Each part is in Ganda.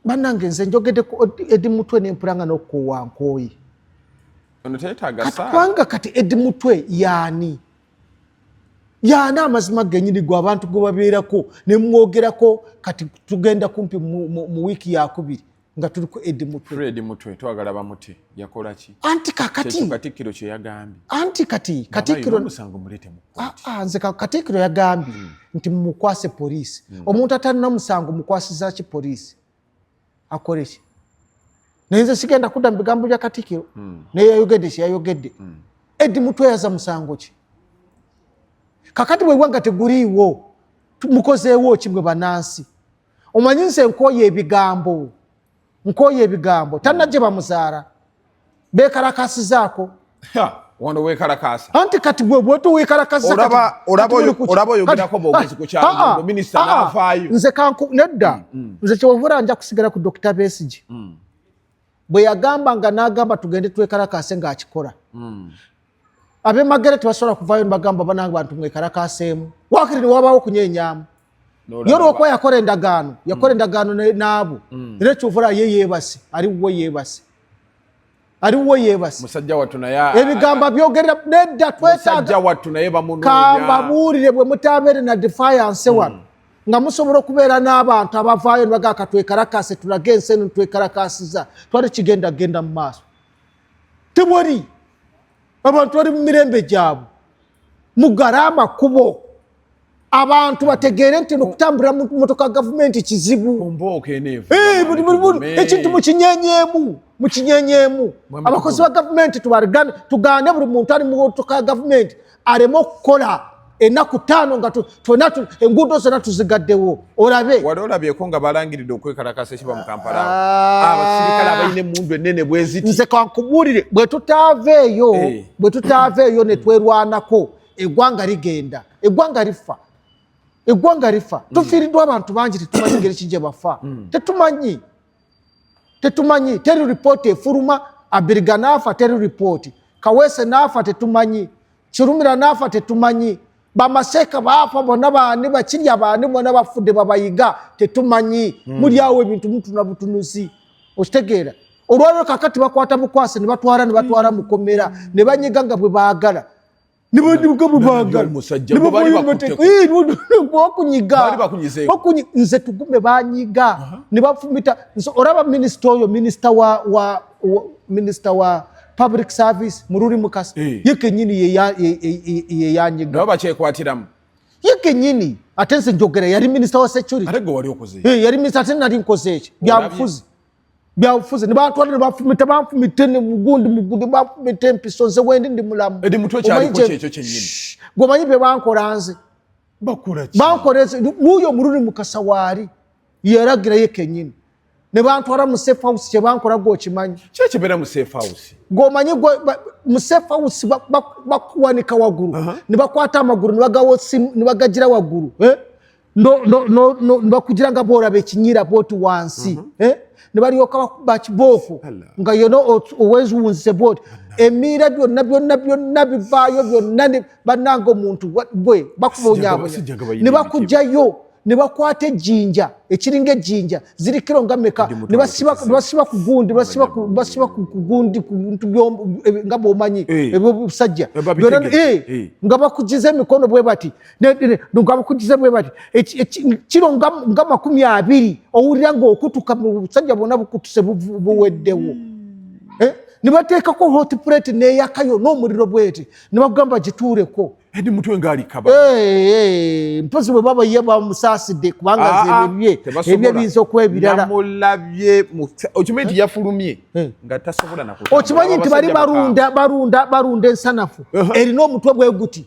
banange nze njogedde ku edi mutwe nempulanga nokukuwa nkooyi kubanga kati edi mutwe yaani yaani amazima genyini gwe abantu gwe babeerako nemwogerako kati tugenda kumpi mu wiiki yakubiri nga tuli ku edi mutwe yakola ki anti kakati katikkiro kye yagambye anti kati katikkiro musango mulete mu ah, ah, nze katikkiro yagambye hmm. nti mumukwase poliisi hmm. omuntu atalina musango mukwasiza ki poliisi akole ki naye nze sigenda kudda mu bigambo bya katikkiro hmm. naye yayogedde kye yayogedde edi mutweyaza musango ki kakati bwebwanga teguliiwo mukozeewo ki mwe banansi omanyi nze nkooye ebigambo nkooye ebigambo tanna gye bamuzaala bekalakasizaako wano wekalakasa anti kati bwebwetwekalakanze nedda mm, mm. nze kyewovura nja kusigala ku dokita besigi mm. bwe yagamba nga nagamba tugende twekalakase ngaakikola abemagere tebasobola kuvayo nibagamba banange bantu mwekarakaseemu wakiri niwabaawo okunyenyamu ye olwokuba yakola endagaano mm. yakola endagaano naabo mm. era ekyovula ye yebase ali wuwe yebase ali wuwe yebase ebigambo byogerera nedda twetagakamba buulire bwe mutabeere na defiance mm. wano nga musobola okubeera n'abantu abavaayo nibagaa katwekarakase tulage ensi eno nitwekarakasiza twali kigenda genda mu maaso tewali abantu bali mu mirembe gyabwe mugale amakubo abantu bategeere nti nokutambulira mu motoka gavumenti kizibu eh, ekintu mukinyenyemu mukinyenyemu abakozi ba gavumenti tugane buli muntu ali mu motoka ya gavumenti aleme okukola enaku taano nga tona enguudo zona tuzigaddewo olabe wali olabyeko nga balangiridde okwekalakasa ekiba mu kampala ah. abasirikale abalina emundu enene bweziti nze kankubuulire bwe tutaava eyo eh. bwe tutaava eyo ne twerwanako eggwanga ligenda eggwanga lifa eggwanga lifa mm. tufiiriddwa abantu bangi tetumanyi ngeri ki gye bafa mm. tetumanyi tetumanyi teri ripooti efuluma abiriga naafa teri ripooti kaweese naafa tetumanyi kirumira naafa tetumanyi bamaseeka baafa bona baani bakirya baani bona bafudde babayiga tetumanyi hmm. muli awo ebintu mutuna butunuzi okitegeera olwaliro kakati bakwata bukwasi nebatwala nebatwala mukomera nebanyiga nga bwe baagala nze tugume banyiga nebafumita oraba minisita oyo minisita wa minisita wa public service mururi mukasa eh. ye kenyini yeyanyiga nabo bakyekwatiramu ye kenyini ate nze njogera yari minisita wa security eh, yari minisita ate nari nkoze ekyo byabufuzi byabufuzi nebatwala nebafumita banfumita mugundi mugundi banfumita empiso nze wendi ndi mulamu gwemanyi byebankola nze bankola nze nuyo omuluni mukasa waali yalagirayo kenyini nebantwala mu safe house kyebankola gwe okimanyi kyekibeera mu safe house gwomanyi mu safe house bakuwanika waggulu nebakwata amagulu nebagagira waggulu eh? nebakugira nga bwolaba ekinyira bwoti wansi mhm. eh? nebalyoka bakuba kibooko nga yona oweziwunzise bwoti emiira byonna byonna byonna bivaayo byonna bananga omuntu gwe bakubonyabonya nebakujayo nebakwata ejjinja ekiringa ejjinja ziri kiro nga meka nebasiba ku gundi basiba ku gundi kuntu nga bwomanyi eh. ebyo busajja eh, eh, nga bakujiza emikono bwe bati nogabakujiza bwe bati kiro nga makumi abiri owulira nga okutuka busajja bwona bukutuse buweddewo hmm. eh? nibateekako hot plate neyakayo n'omuliro bwete nibagamba gituureko edi mutwe ngaalikaba mpozi bwe baba ye bamusaasidde kubanga ah, ah, zebye ebye biyinza okwebirala namulabye okimanyi nti yafulumye eh. nga tasobola naku okimanyi nti bali balunda balunda balunda ensanafu erina omutwe bwe guti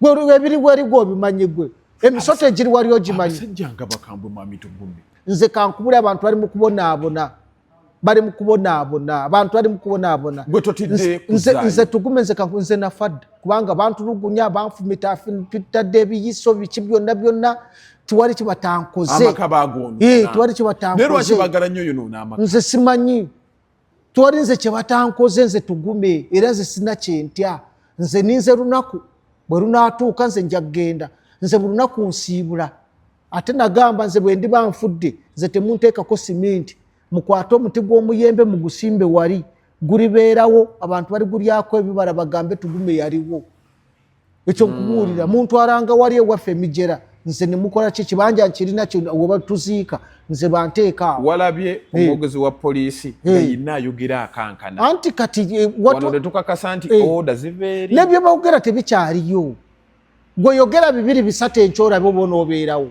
gwe ebiri weri gwe obimanyi gwe emisota egiri wali ogimanyi abasajja nga bakambwe mwami tugumye nze kankubule abantu bali mu kubonaabona bali mu kubonaabona abantu bali mu kubonaabona gwe totidde nze nze tugume nze kanku nze nafadda kubanga bantulugunya banfumita fitadde ebiyiso biki byonna byonna tiwali kibatankoze amaka bagoona ee eh, tiwali kibatankoze nero akibagala nyo yono nama nze simanyi twali nze kyebatankoze nze tugume era nze sina kyentya nze ninze lunaku bwe lunatuuka nze nja kugenda nze buli lunaku nsiibula ate nagamba nze bwe ndiba nfudde nze temunteekako siminti mukwate omuti gw'omuyembe mugusimbe wali gulibeerawo abantu baligulyako ebibala bagambe tugume yaliwo ekyo nkubuulira hmm. muntu aranga wali ewaffe emijera nze nemukola ki kibanja nkirina webatuziika nze banteekaawo walabye eh. omwogezi wa poliisi yeyina eh. ayogera akankana anti kati eh, tukakasa nti oda ziveeri nebyo bawogera tebikyaliyo gwe yogera bibiri bisatu enkyorabe oba onoobeerawo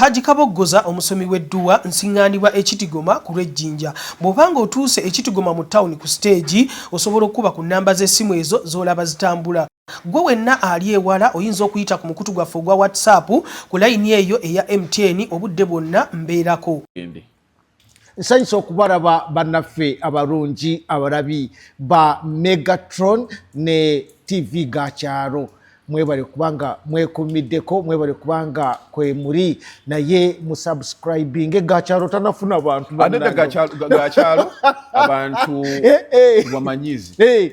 Hajji Kaboggoza omusomi w'edduwa nsiŋŋaanibwa e Kitigoma ku lw'e Jinja. Bw'oba ng'otuuse e Kitigoma mu ttawuni ku siteegi, osobola okukuba ku nnamba z'essimu ezo z'olaba zitambula. Ggwe wenna ali ewala oyinza okuyita ku mukutu gwaffe ogwa WhatsApp ku layini eyo eya MTN obudde bwonna mbeerako. nsanyusa okubalaba bannaffe abalungi abalabi ba megatron ne tv ga kyalo mwebale kubanga mwekumiddeko mwebale kubanga kwemuli naye musubscribing gakyalo tanafuna bantu gakyalo abantu eh, eh. wamanyizi eh.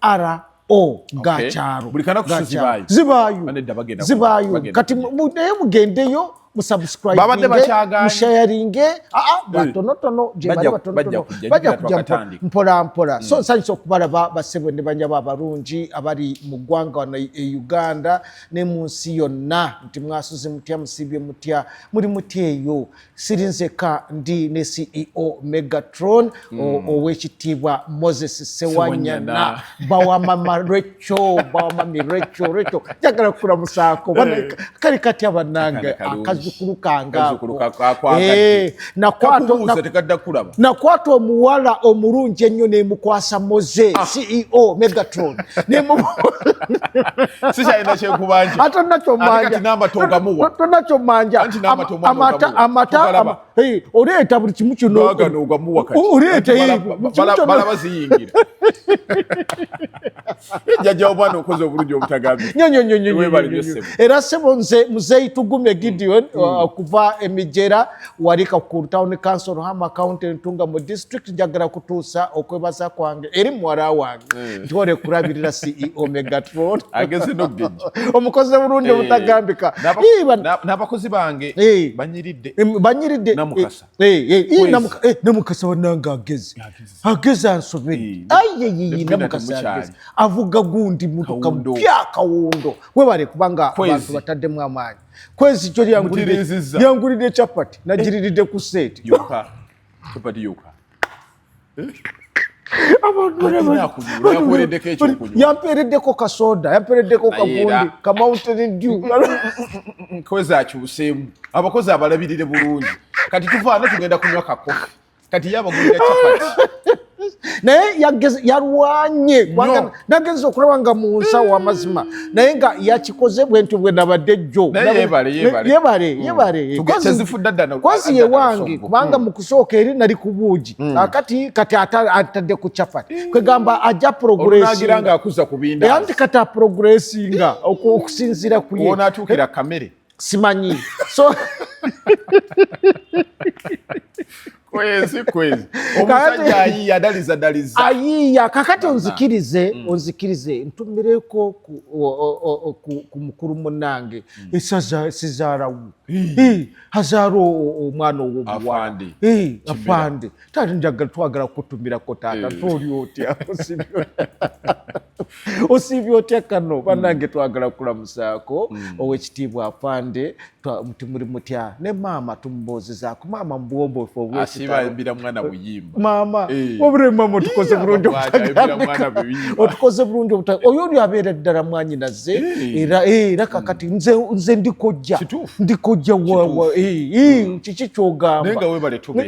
ara o ga kyalo buli kana kusizibayo zibayo zibayo kati naye mugendeyo babadde bakyagamushayaringe ah, ah, eh. batonotono gyebali batonotono bajja kujja mpola mpola so hmm. nsanyusa okubalaba basebo ne banyabo abalungi abali mu ggwanga wano e, e uganda ne mu nsi yonna nti mwasuze mutya musiibye mutya muli mutya eyo siri nzeka ndi ne ceo megatron mm. owekitiibwa moses sewanyana bawamama recho bawamami recho recho njagala kukulamusaako eh. kali katya banange akazukulu kangaako eh, nakwata omuwala omulungi ennyo nemukwasa moze ah. ceo megatron sikyalina kyekubanja ate nakyo manja amata amata hey oleeta buli kimu kino agano ogamuwa kati oleeta hey bala baziyingira jaja obwana okoze obulungi obutagambi nyo nyo nyo nyo webali byose era sebo nze muzei tugume gideon mm. uh, kuva emijera wali ka ku town council hama county ntunga mu district njagala kutuusa okwebaza kwange eri mwara wange mm. ntwale kulabirira ceo megatron ageze nogenja omukozi bulungi eh, obutagambika n'abakozi bange eh. banyiridde eh, banyiridde namukasa wanange ageze ageze ansobedde ayeyiyi namukasa ageze avuga gundi mutuka mpya kawundo webale kubanga abantu bataddemu amaanyi kwezi kyo lyangulidde capati nagiriridde ku seeti capati yoka yampeereddeko kasoda yampeereddeko kagundi ka mountain dew nkozi akyuseemu abakozi abalabirire bulungi kati tuvaana tugenda kunywa kakofi kati ye abagulira chapati naye yalwanye nagenza okulaba nga mu nsawo amazima naye nga yakikoze bwentyo bwe nabadde jjoyebareyebareyebarekozi yewange kubanga mm. mu kusooka eri nali ku buugi mm. akati kati atadde ku cafati mm. kwegamba ajja progressinganti kati aprogressinga okusinzira kuyeatuukira kamere simanyi so kwezi kwezi omusajja ayiya adaliza daliza ayiya kakati onzikirize mm. onzikirize ntumireko ku mukulu munange mm. esaza sizarawu hazara omwana owomuwala afande tali njagala twagala kutumirako taata mm. toli otya osiibye otya kano mm. banange twagala kulamusaako mm. owekitiibwa afande tumuli mutya ne maama tumubuuzizaako maama mubwombofu obwesiayimbira mwana buyimba maama eh. obure maama otukoze bulungi obutagambika otukoze bulungi obutagambika oyo oli abeera ddala mwanyinaze eh. era eh, era kakati mm. nze nze ndikojja ndikojja kiki kyogamba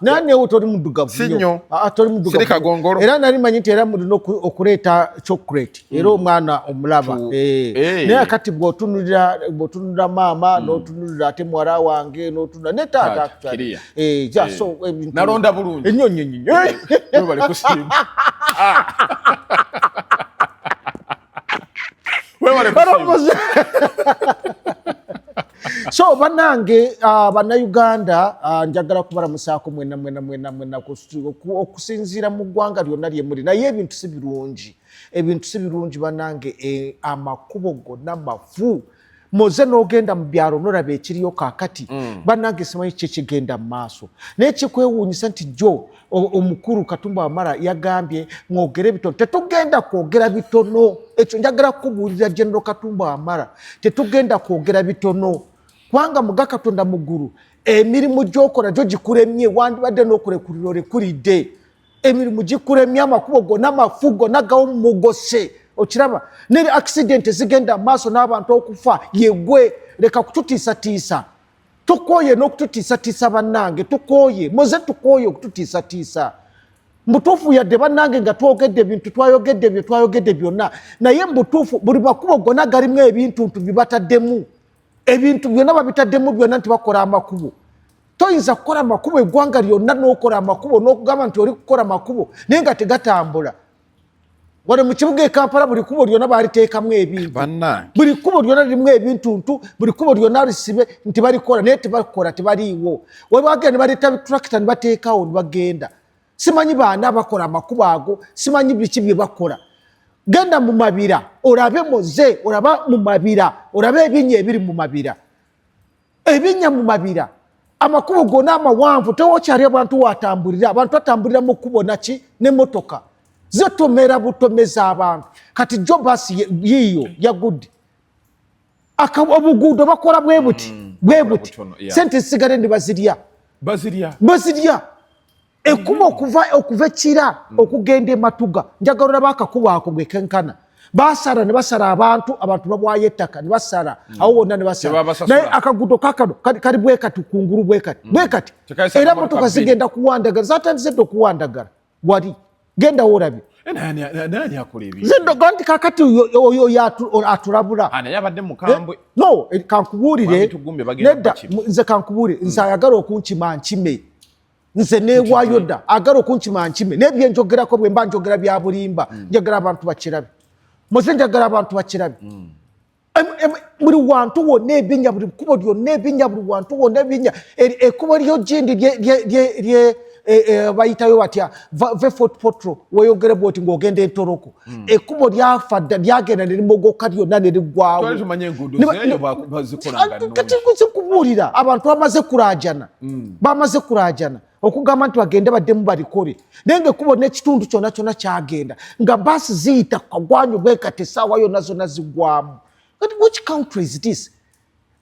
naye newe toli muddugavu nyo ah, ah, toli muddugavu era nali manyi nti era mulina okuleeta chocolate era hmm. omwana omulaba eh. Eh. naye kati bwotunulira bwotunulira maama hmm. notunulira ate muwala wange notunulira ne taata actually eh, eh. nalonda bulungi enyo nyo nyo so banange uh, bannayuganda uh, njagala kubalamusaako mwena mwena mwena mwena okusinziira mu ggwanga lyonna lyemuli naye ebintu si birungi ebintu si birungi banange eh, amakubo gonna mafu moze n'ogenda mu byalo nolaba ekiriyo kakati mm. banange simanyi ki ekigenda mu maaso naye kikwewuunyisa nti jo omukulu katumba wamala yagambye mwogere bitono tetugenda kwogera bitono ekyo njagala kukubuulira genero katumba wamala tetugenda kwogera bitono kubanga muga katonda muggulu emirimu gyokola gyo gikuremye wandibadde n'okulekulira olekulidde emirimu gikulemye amakubo gona mafu gona gawumugose okiraba neri accident zigenda amaaso n'abantu okufa yegwe leka kututiisatiisa tukooye n'okututiisatiisa bannange tukooye muze tukooye okututiisatiisa mbutuufu yadde bannange nga twogedde ebintu twayogedde ebyo twayogedde byonna naye mbutuufu buli makubo gona galimu ebintu ntu bibataddemu ebintu byonna babitaddemu byonna nti bakola amakubo toyinza kukola amakubo eggwanga lyonna n'okola amakubo n'okugamba nti oli kukola amakubo naye nga tegatambula wano mu kibuga ekampala buli kubo lyonna baliteekamu ebintu buli kubo lyonna lirimu ebintuntu buli kubo lyonna lisibe nti balikola naye tebakola tebaliiwo webagenda ne baleeta bitulakita ne bateekawo ne bagenda simanyi baani abakola amakubo ago simanyi biki bye bakola genda mu mabira olabe muze olaba mu mabira olabe ebinya ebiri mu mabira ebinya mu mabira amakubo gona amawanvu tewokyali abantu watambulira abantu atambulira mu kubo naki nemotoka zetomera butomeza abantu kati jobas yiyo yagudde obuguudo bakola bwe buti mm, bwe buti sente zisigale ndi bazirya bazirya bazirya ekkuba okuva okuva ekira mm. okugenda ematuga njagala olaba akakuba ako gekenkana basara ne basara abantu abantu babwayo ettaka ne basara mm. awo wonna ne basara naye akagudo kakano kali bwekati kungulu bwekati bwekati era motoka zigenda kuwandagara zatandise dde okuwandagara wali genda worabye nti kakati oyo atulabula ah, eh, no eh, kankubuulire nedda nze kankubuulire hmm. nze ayagala okunkima nkime nze newayo dda agala okunkima nkime naye byenjogerako bwemba njogera byabulimba hmm. njagala abantu bakirabe muze njagala abantu bakirabe hmm. buli wantu wonna ebinya buli kkubo lyonna ebinya buli wantu wonna ebinya ekkubo lyo gindi bayitayo batya vefotpotro weyogere bwoti ngaogenda entoroko hmm. ekkubo lyafa dda lyagenda nerimogoka lyonna nerigwawokatikubuulira abantu bamaze kurajana hmm. bamaze kurajana okugamba nti bagende baddemu balikole naye nga ekubo n'ekitundu kyona kyona kyagenda nga baasi ziyita kagwanyu bwekati esaawa yona zona zigwamu which country is this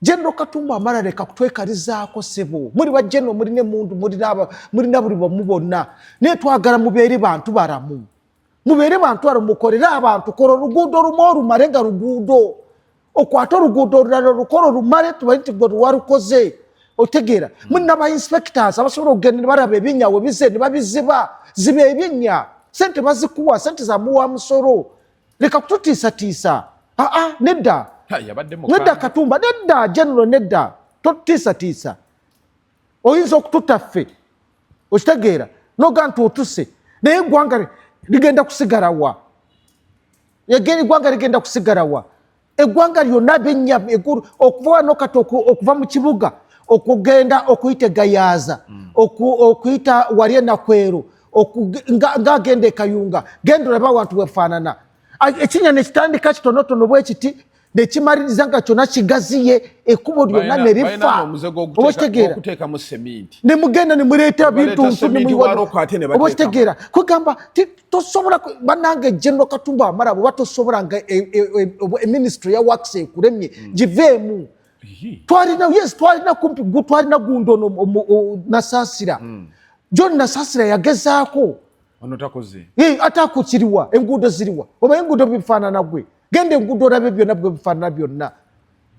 general katumba amala leka kutwekalizaako sebo muli bajeno mulina emundu mulina buli bomu bonna naye twagala mubeere bantu baramu mubeere bantu aro mukorere abantu kora oluguudo olumu olumale nga luguudo okwata oluguudo olulala olukora olumale tubaye nti gwe luwalukoze otegeera hmm. mulina ba inspectors abasobola okugenda nebaraba ebinya webize nebabiziba ziba ebinya sente bazikuwa sente zamuwa musolo leka kututiisatiisa aa nedda nedda katumba nedda general nedda totutiisatiisa oyinza okututta ffe okitegeera noga nti otuse naye egwanga ligenda kusigalawa egeni egwanga ligenda kusigalawa egwanga lyonna benya egulu okuva wano kati okuva mu kibuga okugenda okuyita egayaaza mm. okuyita wali enakwero ngaagenda ekayunga genda olaba abantu bwefaanana ekinya nekitandika kitonotono bwekiti nekimaliriza nga kyona kigaziye ekubo lyona nerifa obakitegeera nemugenda nemuleeta bintu nsunobakitegeera kwegamba tosobola banange general katumba amala bwoba tosobola nga e, e, e, eministry ya wax ekuremye hmm. giveemu twalina yes twalina kumpi twalina gundi ono nasasira hmm. john nasasira yagezaako ono takoze ate akukiriwa enguudo ziriwa oba enguudo bifaanana gwe genda enguudo olabe byonna bwebifaanana byonna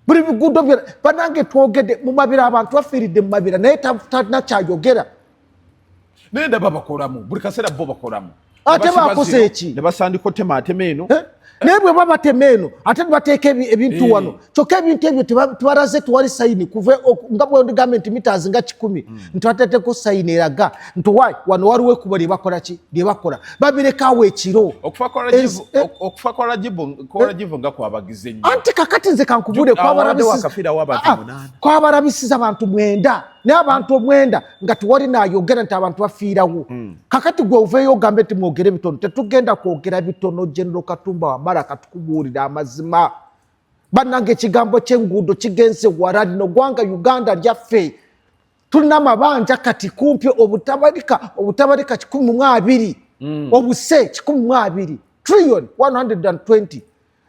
buli biguudo byona banange twogede mumabira abantu bafiiridde mumabira naye talina kyayogera naye ndaba bakolamu buli kaseera bo bakolamu ate bakoze eki nebasandika otema atema eno eh? naye bwe babatema eno ate nebateeka ebintu eh. wano kyokka ebintu ebyo tebaraze tewali sayini kuva nga bwendigambye nti mitaazi nga kikumi hmm. nti bateeteko sayini eraga nti wa wano waliwo ekuba lyebakola ki lyebakola babirekawo ekiro okufa kwa rajibu eh, eh. nga kwabagize nyo anti kakati nze kankubule kwabarabisiza ah, ah. abantu mwenda naye abantu omwenda nga tewali nayogera nti abantu bafiirawo hmm. kakati gwe oveeyo ogambe nti mwogere bitono tetugenda kwogera bitono genero katumba wamala katukubuulira amazima bannanga ekigambo kyenguudo kigenze wala lino gwanga uganda lyaffe tulina amabanja kati kumpi obutabalika obutabalika kikumi mu abiri mm. obuse kikumi mu abiri trillion 120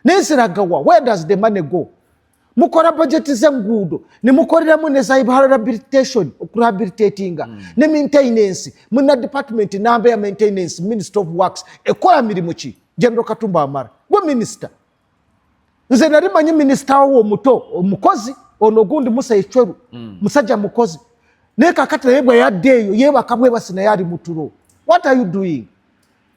naye ziragawa where does the money go mukora bajeti zenguudo nemukoreramu neza rehabilitation okurehabilitatinga mm. ne maintenance muna department namba ya maintenance minister of works ekola mirimu ki general katumba amara gwe minister nze nali manyi minisita wo omuto omukozi ono ogundi musa ecweru mm. musajja mukozi naye kakati naye bwe yadde eyo yebaka bwebasi naye ali mutulo what are you doing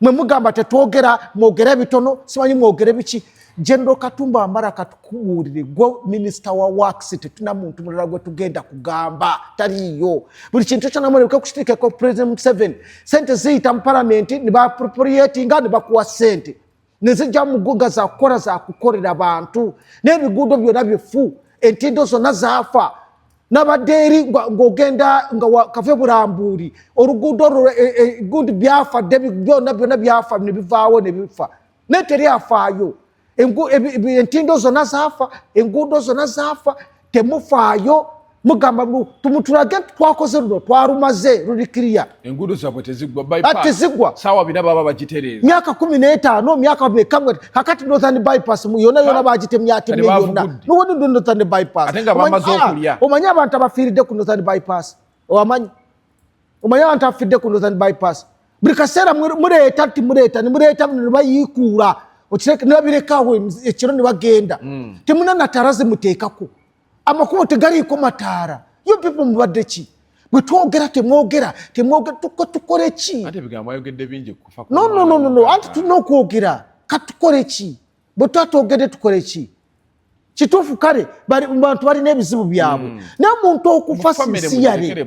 mwe mugamba tetwogera mwogera ebitono simanyi mwogere biki general katumba amara katukubuulire gwe minisita wa wax tetuna muntu mulala gwe tugenda kugamba taliyo buli kintu kyonamoneke kukitekeko president museven sente ziyita mu palamenti nibapropriatinga nibakuwa sente nezijja muguga zakukola zakukolera bantu n'ebiguudo byona bifu entindo zonna zaafa nabadde eri ng'ogenda nga kave burambuuli oluguudo olwo e, e, gundi byafa dde byona byona byafa nebivaawo nebifa naye teri afaayo entindo zonna zaafa enguudo zonna zaafa temufaayo mugamba tumutulage nti twakoze luno twalumaze luli kiriya enguudo zabwe tezigwa sawa bina baba bagitereeza myaka kumi n'etaano myaka mekamwe kakati northern bypass yona yona bagitemyatemye yonna nowonindo northern bypass ate nga bamaze ah, okulya omanyi abantu abafiiridde ku northern bypass owamanyi omanyi abantu afidde ku northern bypass buli kaseera muleeta ti muleeta nimuleeta bino nebayiikuula nebabirekawo ekiro nebagenda hmm. temuna nataara zimuteekako amakubo tegaliiko mataara yo people mubadde ki bwetwogera temwogera temwogera tukole ki anti tulina okwogera katukole ki bwe tuba twogedde tukole ki kituufu kale bantu balina ebizibu byabwe hmm. naye omuntu okufa sisiyale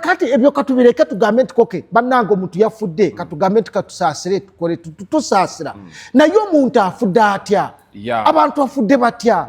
kati ebyo katubireke tugambe nti koke bannange omuntu yafudde hmm. katugambe nti katusaasire tukole tusaasira hmm. naye omuntu afudde atya abantu afudde batya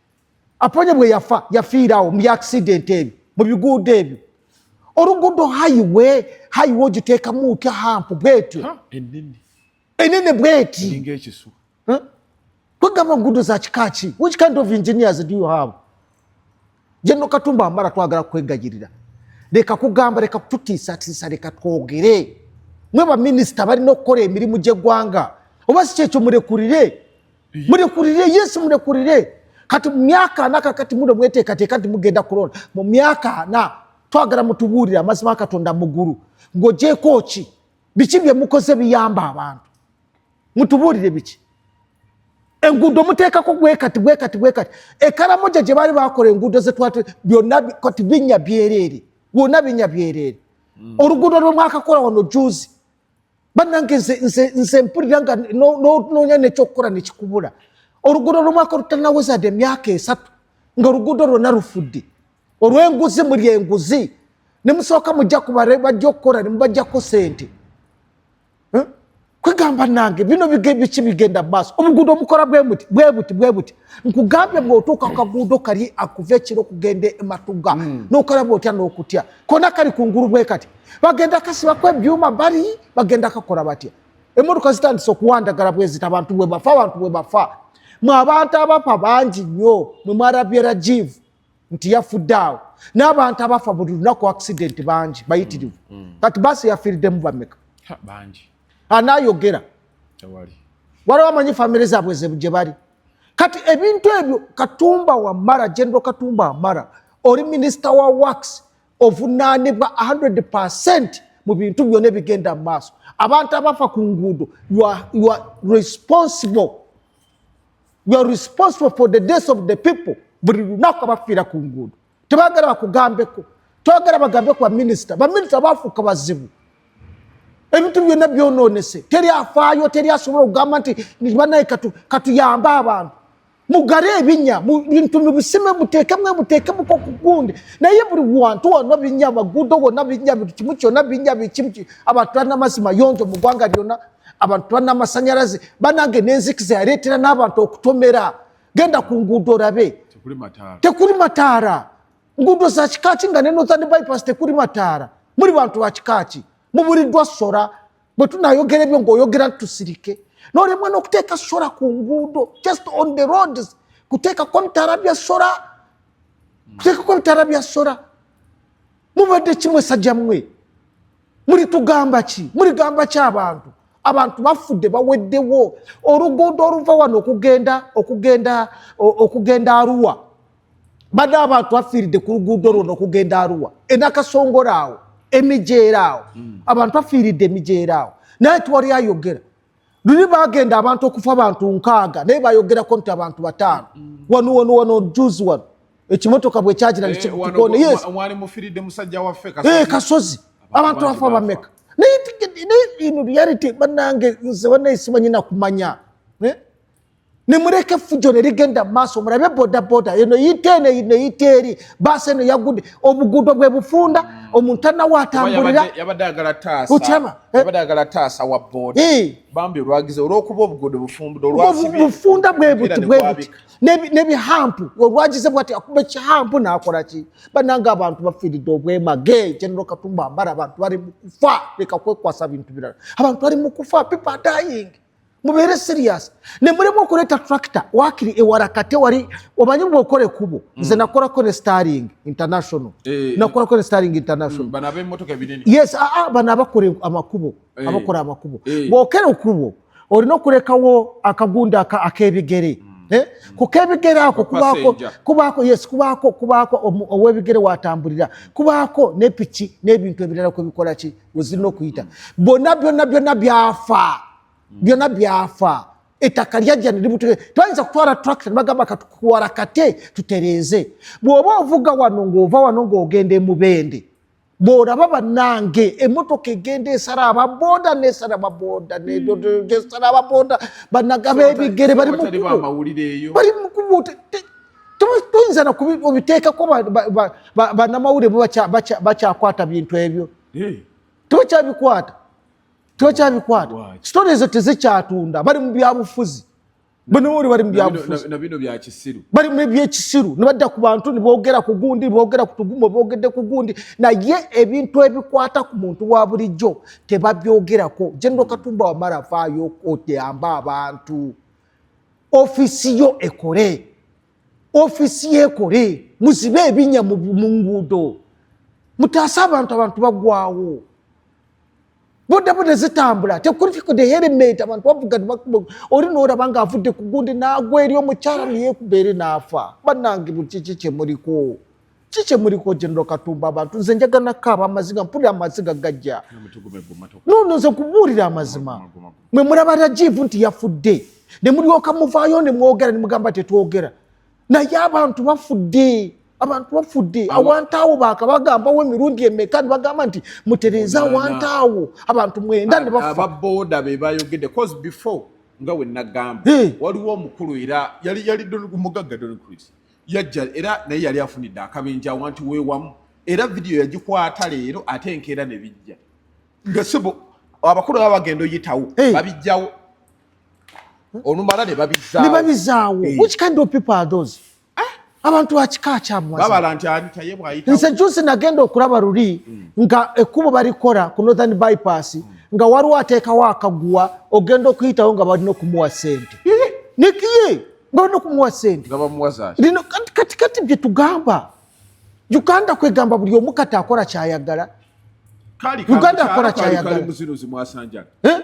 aponye bwe yafa yafiirawo mu accident ebyo mu biguudo ebyo oluguudo hayiwe hayiwe ogiteekamu otya hampu bwetyo enene bweti kwegamba nguudo za kika ki which kind of engineers do you have jenno katumba amara twagala kwegayirira leka kugamba leka kututiisatiisa leka twogere mwe baminisita balina okukola emirimu gy'eggwanga oba si kyekyo mulekulire mulekulire yesu mulekulire kati mu myaka ana kakati muno mweteekateeka nti mugenda kulonda mu myaka ana twagala mutubuulire amazima katonda mugulu ng'ogyeko ki biki bye mukoze biyamba abantu mutubuulire biki enguudo muteekako gwekati gwekati gwekati ekaramoja gye baali bakola enguudo zetwat byonna kati binya byereere wonna binya byereere hmm. oluguudo lwe mwakakola wano juzi bannange nze mpulira nga noonya nekyokukola nekikubula oluguudo lwomwaka olutanawezade emyaka esatu nga oluguudo lwonna lufudde olwenguzi muli enguzi nemusooka mujja kubajja okukola nemubajjako sente hm? kwegamba nange bino biki bigenda maaso obuguudo omukola bwebuti bwebuti bwebuti nkugambye bwotuuka kaguudo kali akuva ekiro okugenda ematuga hmm. nokalaba otya nokutya kona kali kungulu bwekati bagenda kasibako ebyuma bali bagenda kakola batya emotoka zitandise okuwandagala bwezita abantu bwebafa abantu bwebafa mwe abantu abafa bangi nnyo mwe mwarabye rajivu nti yafudde awo n'abantu abafa buli lunaku accident bangi bayitirivu mm, mm. kati basi yafiiridemu bameka anayogera waliwo amanyi famire zaabwe gye bali kati ebintu ebyo katumba wamara general katumba wamara oli minisita wa wax ovunaanibwa 100 percent mu bintu byona ebigenda mu maaso abantu abafa ku nguudo responsible for the death of the people buli lunaku abafiira ku nguudo tebagala bakugambeko twagala bagambe ku baminisita baminisita bafuuka bazibu ebintu byonna byononese teri afaayo teri asobola okugamba nti banaye katuyambe abantu mugare ebinya bintu mubisime mutekemwe mutekemuko kugundi naye buli wantu wona binya amagudo wona binya buli kimu kyona binya bikimu abantu balina amazzi mayonjo mu ggwanga lyona abantu balina amasanyalaze banange nenzikiza yaleetera n'abantu okutomera genda ku nguudo olabe tekuli mataara nguudo za kikaaki nga ne northern bypass tekuli mataara muli bantu ba kikaaki mubuliddwa sora bwe tunayogera ebyo ngaoyogera tusirike nolemwa nokuteeka sora ku nguudo just on the roads kuteekako ebitaala bya sora kuteekako ebitaala bya sora mubadde kimwe sajja mwe mulitugamba ki muligamba ki abantu abantu bafudde baweddewo oluguudo oluva wano okugenda okugenda okugenda aruwa bade abantu afiiridde ku luguudo lwo nokugenda aruwa enakasongora awo emijeera awo hmm. abantu afiiridde emijeera awo naye tiwali ayogera luli bagenda abantu okufa abantu nkaaga naye bayogerako nti abantu bataano hmm. wano wano wano juzi wano ekimotoka bwekyagira eh, eh, kasozi abantu afa bameka naye ino reality banange nze banaye simanyi nakumanya eh? nimureke effujo ne ligenda mu maaso mulabe bodaboda eno yita eno eno yita eri baasi eno yagudde obuguudo bwe bufunda omuntu tanawo atambuliraokyaba bufunda bwebuti bwebuti nebihampu olwagize bwati akuba ekihampu nakola ki bananga abantu bafiiridde obwemage genero katumba ambara abantu bali mukufa leka kwekwasa bintu birala abantu bali mukufa people are dying mubeere serious nemulemu okuleta tractor wakiri ewarakate wali omanyi bwokole kubo mm. nze nakolako ne starling international eh, eh, eh. nakolako ne starling international mm, yes ah, ah, bano abakola amakubo abakola amakubo bwokere okubo olina okulekawo akagunda akebigere mm. Eh? kukebigere ako kubaako kubaako yes kubaako kubaako owebigere watambulira kubaako nepiki n'ebintu ebirala kwebikolaki wezirina okuyita bona byona byona byafa byona byafa ettaka lyajja neributu twayinza kutwala tractor nebagamba katukuwala kate tutereeze bwoba ovuga wano ngaova wano ngaogenda emubende bwolaba banange emotoka egenda esala ababoda nesala baboda nesala ababoda banagaba ebigere bali mukubo toyinza nobiteekako banamawulire bakyakwata bintu ebyo tokyabikwata tokyabikwata sitore ezo tezikyatunda bali mu byabufuzi banamawulire bali mu byabufuzi bali mu ebyekisiru nibadda ku bantu nibogera ku gundi nibogera ku tugumo bogedde ku gundi naye ebintu ebikwata ku muntu wa bulijjo tebabyogerako jenero katumba wamala afaayo okuyamba abantu ofisi yo ekole ofisi yekole muzibe ebinya mu nguudo mutaase abantu abantu bagwawo bodaboda zitambula tekurifikudeyeremete abantu bavuga oli noraba nga avudde ku gundi nagwa eri omukyala neyekubeere naafa banange bukiki kyemuliko ki kye muliko genero katumba abantu nze njagala nakko abamaziga mpulira amaziga gajja nono nze kubuulira amazima mwe mulaba rajivu nti yafudde ne mulyoka muvaayo ne mwogera ne mugamba tetwogera naye abantu bafudde abantu bafudde awantaawo bakabagambawo emirundi emeka ne bagamba nti mutereeze awantaawo abantu mwenda ne bafaababooda be bayogedde cause before nga wenagamba waliwo omukulu era yali yali mugagga doncrisi yajja era naye yali afunidde akabenja wanti wewamu era vidiyo yagikwata leero ate enkeera ne bijja nga sebo abakulu baba bagenda oyitawo babijjawo olumala ne babizaawo eh. which kind of people are those eh? abantu bakika kyamwazinze jusi nagenda okulaba luli hmm. nga ekkubo balikola ku northern bypass hmm. nga waliwo ateekawo akaguwa ogenda okuyitawo nga balina okumuwa sente eh? nikiye nga balina okumuwa sente kati kati byetugamba uganda kwegamba buli omu kati akola kyayagala uganda akola kyayagalamwasanjala eh?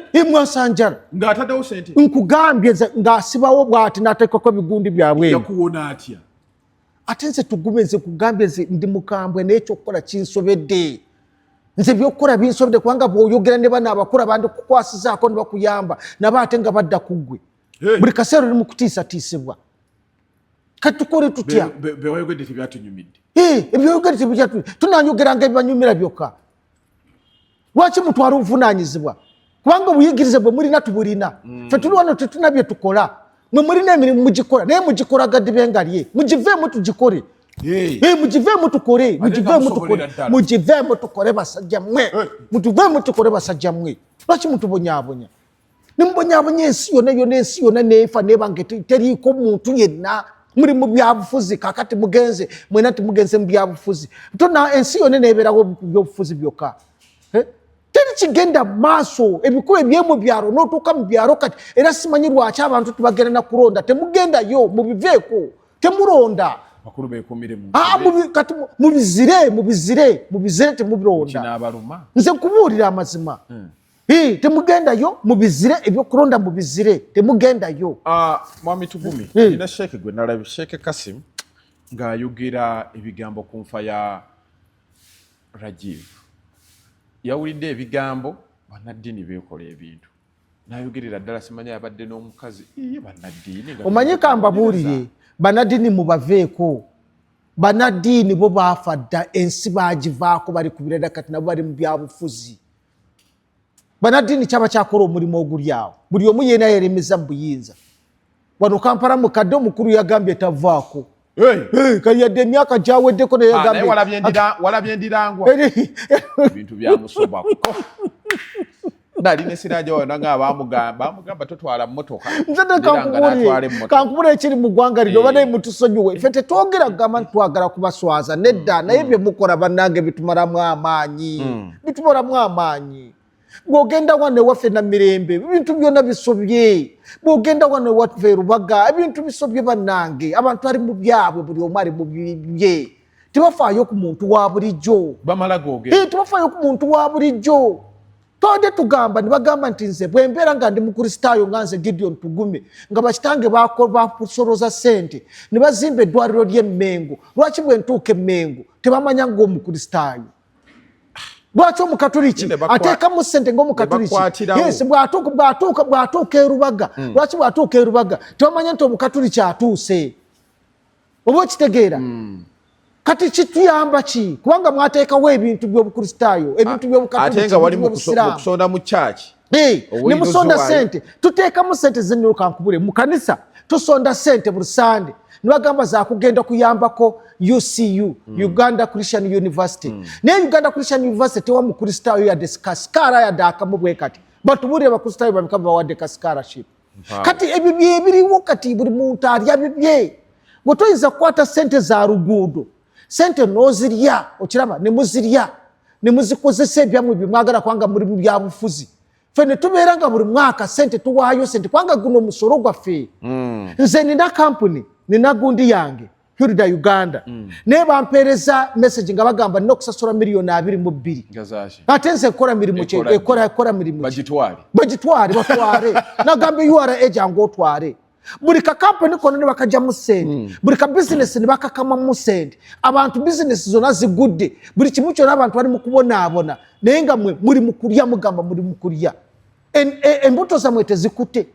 eh, nkugambye ngaasibawo bwati natekako ebigundi byabwe ate nze tugume nze kugambye nze ndi mukambwe naye ekyokukola kinsobedde nze byokukola binsobedde kubanga bwoyogera ne bana abakula bandikukwasizaako nibakuyamba naba ate nga badda kuggwe buli kaseera oli mukutiisatiisibwa kati tukole tutya byewayogedde tebyatunyumidde ebyoyogedde tebyatunyumidde tunanyogeranga ebibanyumira byokka lwaki mutwala obuvunanyizibwa kubanga obuyigirize bwe mulina tubulina mm. fe tuli wano tetulina bye tukola mwe mulina emirimu mugikola naye mugikola gadibe nga lye mugiveemu tugikole mugiveemu tukole mugiveemu tukole mugiveemu tukole basajja mwe mutuveemu tukole basajja mwe lwaki mutubonyabonya nemubonyabonya ensi yona yona ensi yona nefa nebange teriiko muntu yenna muli mu byabufuzi kakati mugenze mwena timugenze mu byabufuzi tona ensi yona neberawo byobufuzi byokka eh? teri kigenda maaso ebikuba ebyemu byalo notuuka mu byalo kati era simanyi lwaki abantu tibagenda nakulonda temugendayo mubiveeko temuronda bakulu bekumire mu ah mubi kati mubizire mubizire mubizire te mubironda nze kubuulira amazima hmm. Hey, temugendayo mubizire ebyokulonda mubizire temugendayo uh, ah, mwami tugumi hey. nina sheeke gwe nalabi sheeke kasim ng'ayogera ebigambo ku nfa ya rajiv yawulidde ebigambo banaddini beekola ebintu nayogerera ddala simanya yabadde n'omukazi iye banaddini omanyi kambabuulire banaddini mubaveeko banaddini bo baafa dda ensi baagivaako bali ku birada kati nabo bali mu byabufuzi banaddiini kyaba kyakola omulimu oguli awo buli omu yeena yeremeza mu buyinza wano kampala mukadde omukulu yagambye tavaako kayadde emyaka gyaweddeko neyagambewalabye ndirangwa ebintu byamusobako nali nesiraja wano nga abamugamba amugamba totwala motoka kankubula ekiri mugwanga lino banaye eh. mutusonyiwe fe tetwogera kugamba nti twagala kubaswaza nedda naye mm. byemukola banange bitumalamu amaanyi mm. bitubolamu amaanyi bwogenda wano ewaffe na mirembe ebintu byona bisobye bwogenda wano ewaffe erubaga ebintu bisobye bannange abantu ali mu byabwe buli omu ali mu bibye tebafaayo ku muntu wa bulijjo tebafaayo ku muntu wa bulijjo twabadde tugamba nebagamba nti nze bwembeera nga ndi mukristaayo nga nze gideon tugume nga bakitange bakusoloza sente ne bazimba eddwaliro ly'emmengo lwaki bwentuuka emmengo tebamanya ngaomukristaayo lwaki omukatuliki ateekamu sente ngaomukatulikiyes bwatuuka erubaga hmm. lwaki bwatuuka erubaga tewamanya nti omukatuliki atuuse oba okitegeera hmm. kati kituyamba ki kubanga mwateekawo ebintu byobukristaayo ebintu byobukatuliki nga wali mukusonda mu kyaki ne musonda sente tuteekamu sente zennyolo kankubule mu kanisa tusonda sente buli sande nibagamba zakugenda kuyambako ucu mm. uganda christian university mm. naye uganda christian university tewa mukristaayo yadde sikasikaara yadde akamu bwe kati batubuulire bakristaayo babika bawadde kasikaraship kati ebyo byebiriwo kati buli muntu alya bibye gwe toyinza kukwata sente za luguudo sente nozirya okiraba nemuzirya nemuzikozesa ebyamwe byemwagala kubanga muli mubyabufuzi fe netubeera nga buli mwaka sente tuwaayo sente kubanga guno musolo gwaffe mm. nze nina kampuni nina gundi yange hilda uganda mm. naye bampeereza message nga bagamba nina okusasula miliyoni abiri mu bbiri ate nze ekola mirimu ekola mirimu bagitwale batwale nagamba ura ejange otwale buli kakampuni kona ne bakajjamu sente hmm. buli ka bizinesi ne bakakamamu sente abantu bizinesi zona zigudde buli kimu kyona abantu bali mukubonaabona naye nga mwe muli mukulya mugamba muli mukulya e, embuto zamwe tezikute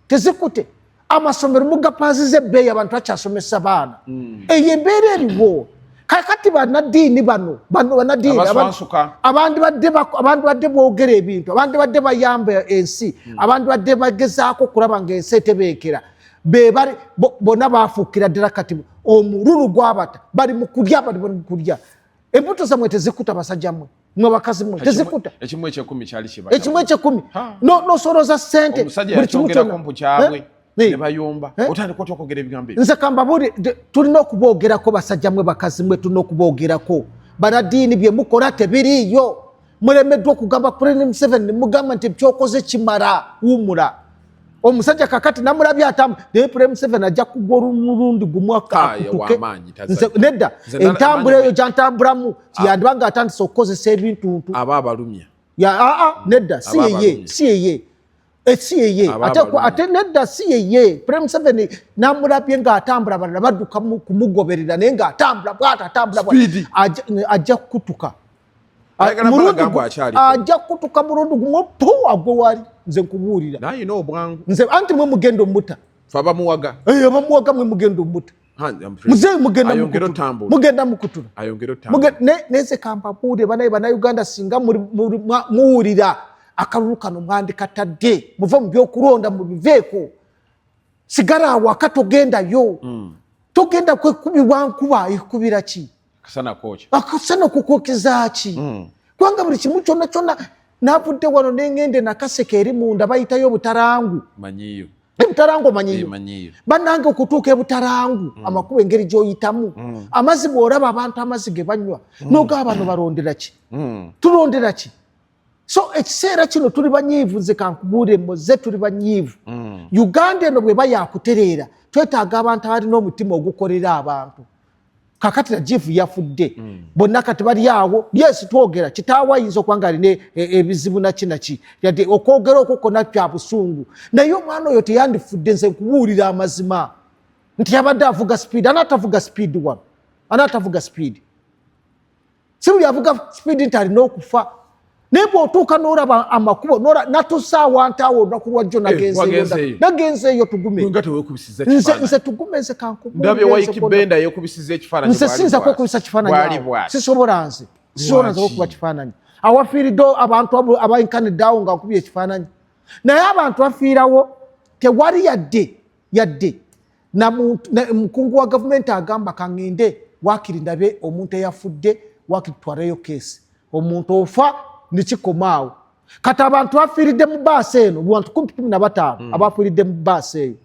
tezikute amasomero mugapaziza ebbeeyi abantu bakyasomesa baana hmm. eyo embeera eriwo kakati banadiini bano bano banadiini abandibadde bogera ebintu abandibadde bayamba ensi hmm. abandibadde bagezaako okulaba nga ensi etebeekera bebali bona bafuukira ddala kati omululu gwabata bali mukulya bali bali mukulya embuto zamwe tezikuta basajja mwe mwe bakazi mwe tezikuta ekimu ekyekumi kyali kibata ekimu ekyekumi no no soro za sente buli kimu kyona kompu kyabwe eh? eh? ne bayomba eh? otani kwa tokogera ebigambo nze kamba buri tuli no kubogera ko basajja mwe bakazi mwe tuli no kubogera ko banadini bye mukora tebiri yo muremedwa kugamba kuri ni mseven mugamba nti byokoze kimara umura omusajja kakati namulabye atamu naye pulemu seven ajja kugwa olumulundi gumu akutuke nedda entambula eyo gyantambulamu kyandiba ah. nga atandise okukozesa ebintuntu aba abalumya aa ah, ah, nedda si yeye si yeye eh, si yeye ate nedda si yeye pulemu seven namulabye nga atambula balala badduka kumugoberera naye nga atambula bwata atambula ajja kukutuka ajja kutuka mulundi gumu pu agwe wali nze nkubuulira nze anti mwe mugenda omuta abamuwaga eh, abamuwaga mwe mugenda omuta muzeeyi mugenda mukutula neze kampapuule banaye banauganda singa muwulira akalulu kano mwandikatadde muve mu byokulonda mubiveeko sigala awaka togendayo hmm. togenda kwekubibwa nkuba ekubira ki akasana kwoki akasana kukwokiza ki mm. kubanga buli kimu kyona kyona navudde wano nengende nakaseke eri munda bayitayo obutarangu manyiyo ebutarangu omanyiyo eh, banange okutuuka ebutarangu mm. amakuba engeri gyoyitamu mm. amazi bworaba abantu amazi gebanywa mm. nogaa bano balonderaki mm. tulonderaki so ekiseera kino tuli banyiivu nze kankubuulire moze tuli banyiivu mm. uganda eno bweba yakutereera twetaaga abantu abalina omutima ogukolera abantu kakati rajivu yafudde mm. bonna kati bali awo yes twogera kitaawo ayinza okuba nga alina e, e, ebizibu naki naki yadde okwogera okwo kona kya busungu naye omwana oyo teyandifudde nze nkubuulira amazima nti yabadde avuga sipiidi anaatavuga sipiidi wano anaatavuga sipiidi si buli avuga sipiidi nti alina okufa naye bwotuuka nolaba amakubo natusaawa nti awo olunaku lwajjo eh, nagenzeeyo nagenzeeyo tugumenze tugume nze kankubenze siyinzako okubisa kifaananyi sisobola nze sisobola nze okuba kifaananyi awafiiridde abantu abainkanidde awo nga nkubye ekifaananyi naye abantu afiirawo tewali yadde yadde omukungu wa gavumenti agamba kaŋŋende waakiri ndabe omuntu eyafudde waakiri twaleyo keesi omuntu ofa nekikomaawo kati abantu afiiridde mu baasi eno bantu kumpi kumi na bataano hmm. abafiiridde mu baasi eyo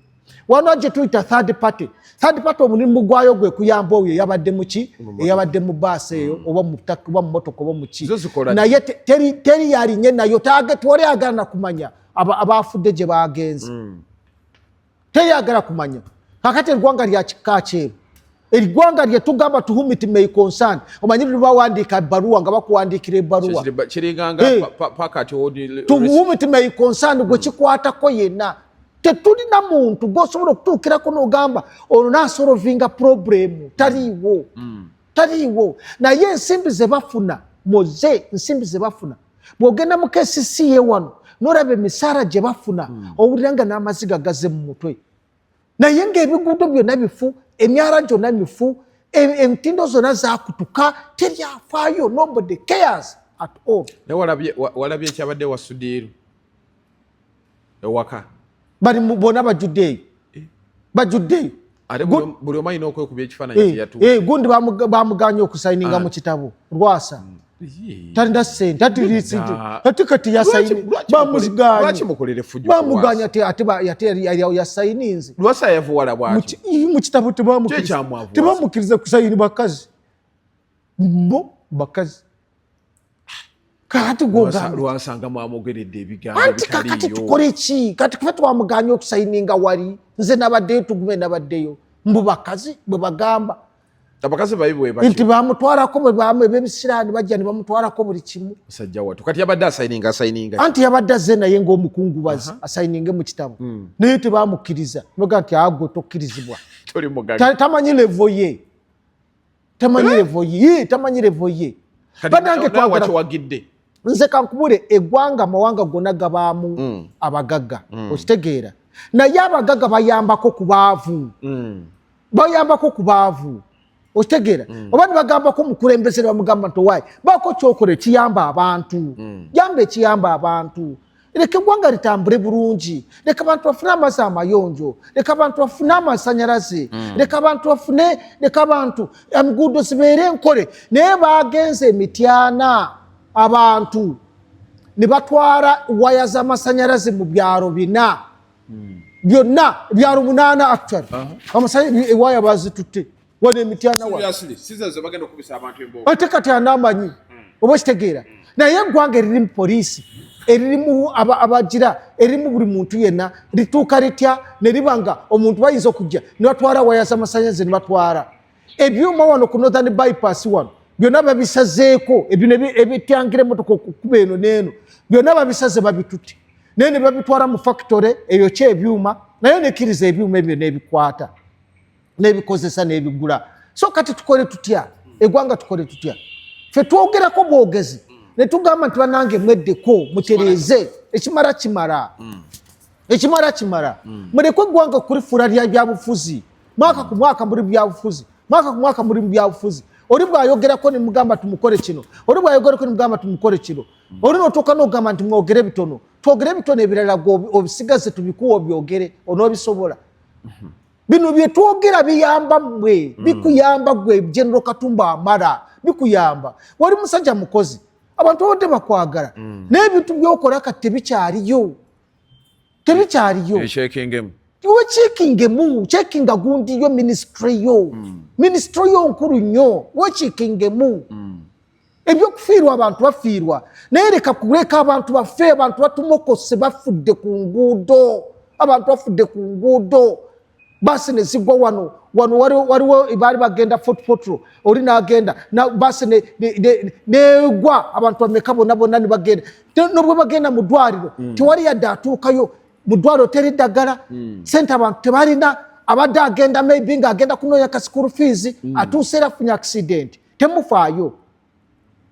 wano gye tuyita third party third party omulimu gwayo gwe kuyamba oyo eyabadde muki eyabadde mu baasi eyo hmm. oba mutaka oba mumotoka oba muki naye teri yalinye nayo tewali agana kumanya abaafudde gye bagenze hmm. teyagala kumanya kakati eggwanga lya kika kyeru eggwanga lye tugamba to whom it may concern omanyi luli bawandiika ebbaluwa nga bakuwandiikira ebbaluwa eh. to whom it may concern gwe hmm. kikwatako yenna tetulina muntu gwosobola okutuukirako nogamba ono nasolovinga problemu taliiwo hmm. taliiwo naye ensimbi zebafuna muze nsimbi zebafuna bwogenda mu kcc ye wano noraba emisaala gye bafuna hmm. owulira nga n'amaziga gaze mu mutwe naye ngaebiguudo byonna bifu emyala gyonna mifu entindo zonna zakutuka teryafaayo nobody cares at all naye walabye ekyabadde wasudiiru ewaka bali bona bajudde eyo eh. bajudde eyo ate buli omu alina okwekuba ekifaananyi eh, kyeyatu eh, gundi bamuganye okusayininga ah. mu kitabo lwasa hmm. talina sente ate kati yasayinbamuganya yasayininze mu kitabo tebamukiriza kusayini bakazi bo bakazi kakati gwogalwasanga mwamogeredde ebigamboanti kakati tukole ki kati kufe twamuganye okusayininga wali nze nabaddeyo tugume nabaddeyo mbu bakazi bwe bagamba abakazi baibwenti bamutwarako ebebisiraani bajja ne bamutwarako buli kimu musajja watu kati yabadde asayininga asayininga anti yabadde azze naye ngaomukungubazi asayininge mu kitabu hmm. naye tebamukkiriza noga nti agwe tokkirizibwa tamanyi levo ye tamanyi eh? levo ye tamanyi levo ye banange twagidde nze kankubule egwanga amawanga gona gabaamu mm. abagagga mm. okitegeera naye abagagga bayambako ku baavu mm. bayambako ku baavu okitegeera mm. oba nibagambako omukulembeze nibamugamba nti owaayi baako kyokola ekiyamba abantu mm. yamba ekiyamba abantu leka eggwanga litambule bulungi leka abantu bafune amazzi amayonjo leka abantu bafune amasanyalaze hmm. leka abantu bafune leka abantu enguudo zibeere enkole naye bagenze emityana abantu ne batwala waya z'amasanyalaze mu byalo bina hmm. byonna byalo munaana actual uh-huh. amasanyalaze ewaya bazitutte wano emityana ate kati anaamanyi hmm. oba okitegeera hmm. naye eggwanga eririmu poliisi eririmu abagira eririmu buli muntu yenna lituuka litya ne riba nga omuntu bayinza okujja ne batwala waya z'amasanyaze ne batwala ebyuma wano ku northern bypass wano byonna babisazeeko ebino ebityangira emotoka okukuba eno neeno byonna babisaze babitutte naye ne babitwala mu factory eyo kyebyuma naye nekkiriza ebyuma ebyo nebikwata n'ebikozesa n'ebigula so kati tukole tutya egwanga tukole tutya fe twogerako bwogezi netugamba nti banange mweddeko mutereeze ekimala kimala mm. ekimala kimala mm. mulekwe eggwanga kulifula lya byabufuzi mwaka ku mwaka muli byabufuzi mwaka ku mwaka muli byabufuzi oli bwayogerako nemugamba tumukole kino oli bwayogerako nemugamba tumukole kino mm. oli notuuka nogamba nti mwogere bitono twogere bitono ebirala gwe obisigaze tubikuwa obyogere onoobisobola mm-hmm. bino byetwogera biyamba mwe hmm. bikuyamba gwe general katumba amara bikuyamba wali musajja mukozi abantu babadde bakwagala hmm. naye ebintu byokola kati tebikyaliyo tebikyaliyo iwe checking emu checking gundi yo ministry yo mm. ministry yo nkulu nyo we checking emu mm. ebyokufiirwa abantu bafiirwa naye leka kuleka abantu bafe abantu batumokose bafudde ku nguudo abantu bafudde ku nguudo basi nezigwa wano wano waliwo baali bagenda fotpotro oli nagenda basi negwa abantu bameka bonabona nibagenda nobwe bagenda mu dwaliro hmm. tewali yadde atuukayo mu dwaliro teri ddagala hmm. sente abantu tebalina abadde agenda maybe nga agenda kunoonya ka school fees hmm. atuuse era afunye accidenti temufaayo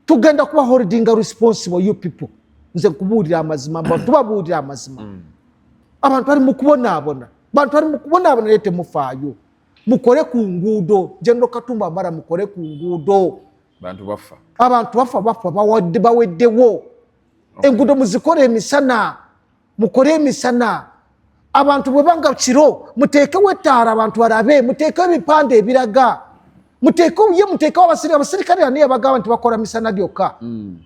tugenda kuba holdinga responsible you people nze nkubuulira amazima mba tubabuulira amazima mm. abantu bali mukubonaabona bantu bali mukubonaabona naye temufaayo mukole ku nguudo general katumba amara mukole ku nguudo abantu bafa abantu bafa bafa baweddewo enguudo muzikole emisana mukole emisana abantu bwebanga kiro muteekewo ettaala abantu balabe muteekewo ebipande ebiraga muteekewo ye muteekewo abasirikale abasirikale ani yabagamba nti bakola misana gyokka hmm.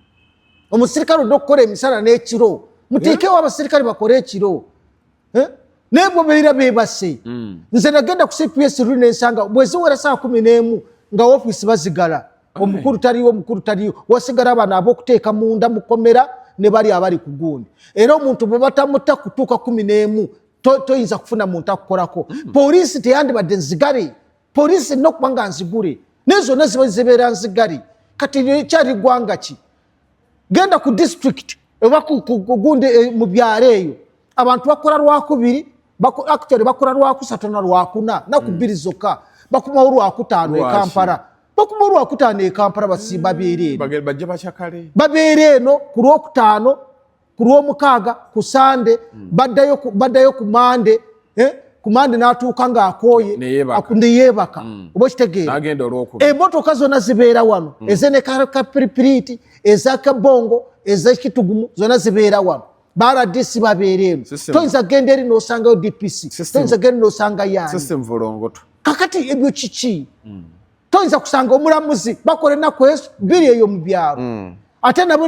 omusirikale odde okukola emisana n'ekiro muteekewo abasirikale bakole ekiro eh? naye bwe beera beebase hmm. nze nagenda ku cps lu nensanga bweziwera saa kumi n'emu nga ofiisi bazigala omukulu taliwo omukulu taliwo wasigala abana abokuteeka munda mukomera ne bali abali ku gundi era omuntu bwe batamutta kutuuka kumi n'emu toyinza kufuna muntu akukolako hmm. poliisi teyandibadde nzigale poliisi erina okuba nga nzigule naye zonna ziba zibeera nzigale kati ekyali ggwanga ki genda ku disitulikiti oba kugundi eh, mu byalo eyo abantu bakola lwakubiri actually bakola lwakusatu na lwakuna naku hmm. bbiri zokka bakumawo lwakutaano e kampala bakuba olwakutaano e kampala basimba mm. beera eno bajja bakyakale babeera eno ku lwokutaano ku lwomukaaga ku sande mm. baddayo ku mande eh? ku mande n'atuuka ng'akooye neyeebaka mm. oba okitegeera emotoka zonna zibeera wano ezenekapiripiriiti ezakabongo ezekitugumu zonna zibeera wano baradisi babeera eno toyinza genda eri n'osangayo dpc toyinza genda eri n'osanga yaani kakati ebyo kiki mm. toyinza kusanga omulamuzi bakola enaku biri eyo mu byalo mm. ate nabo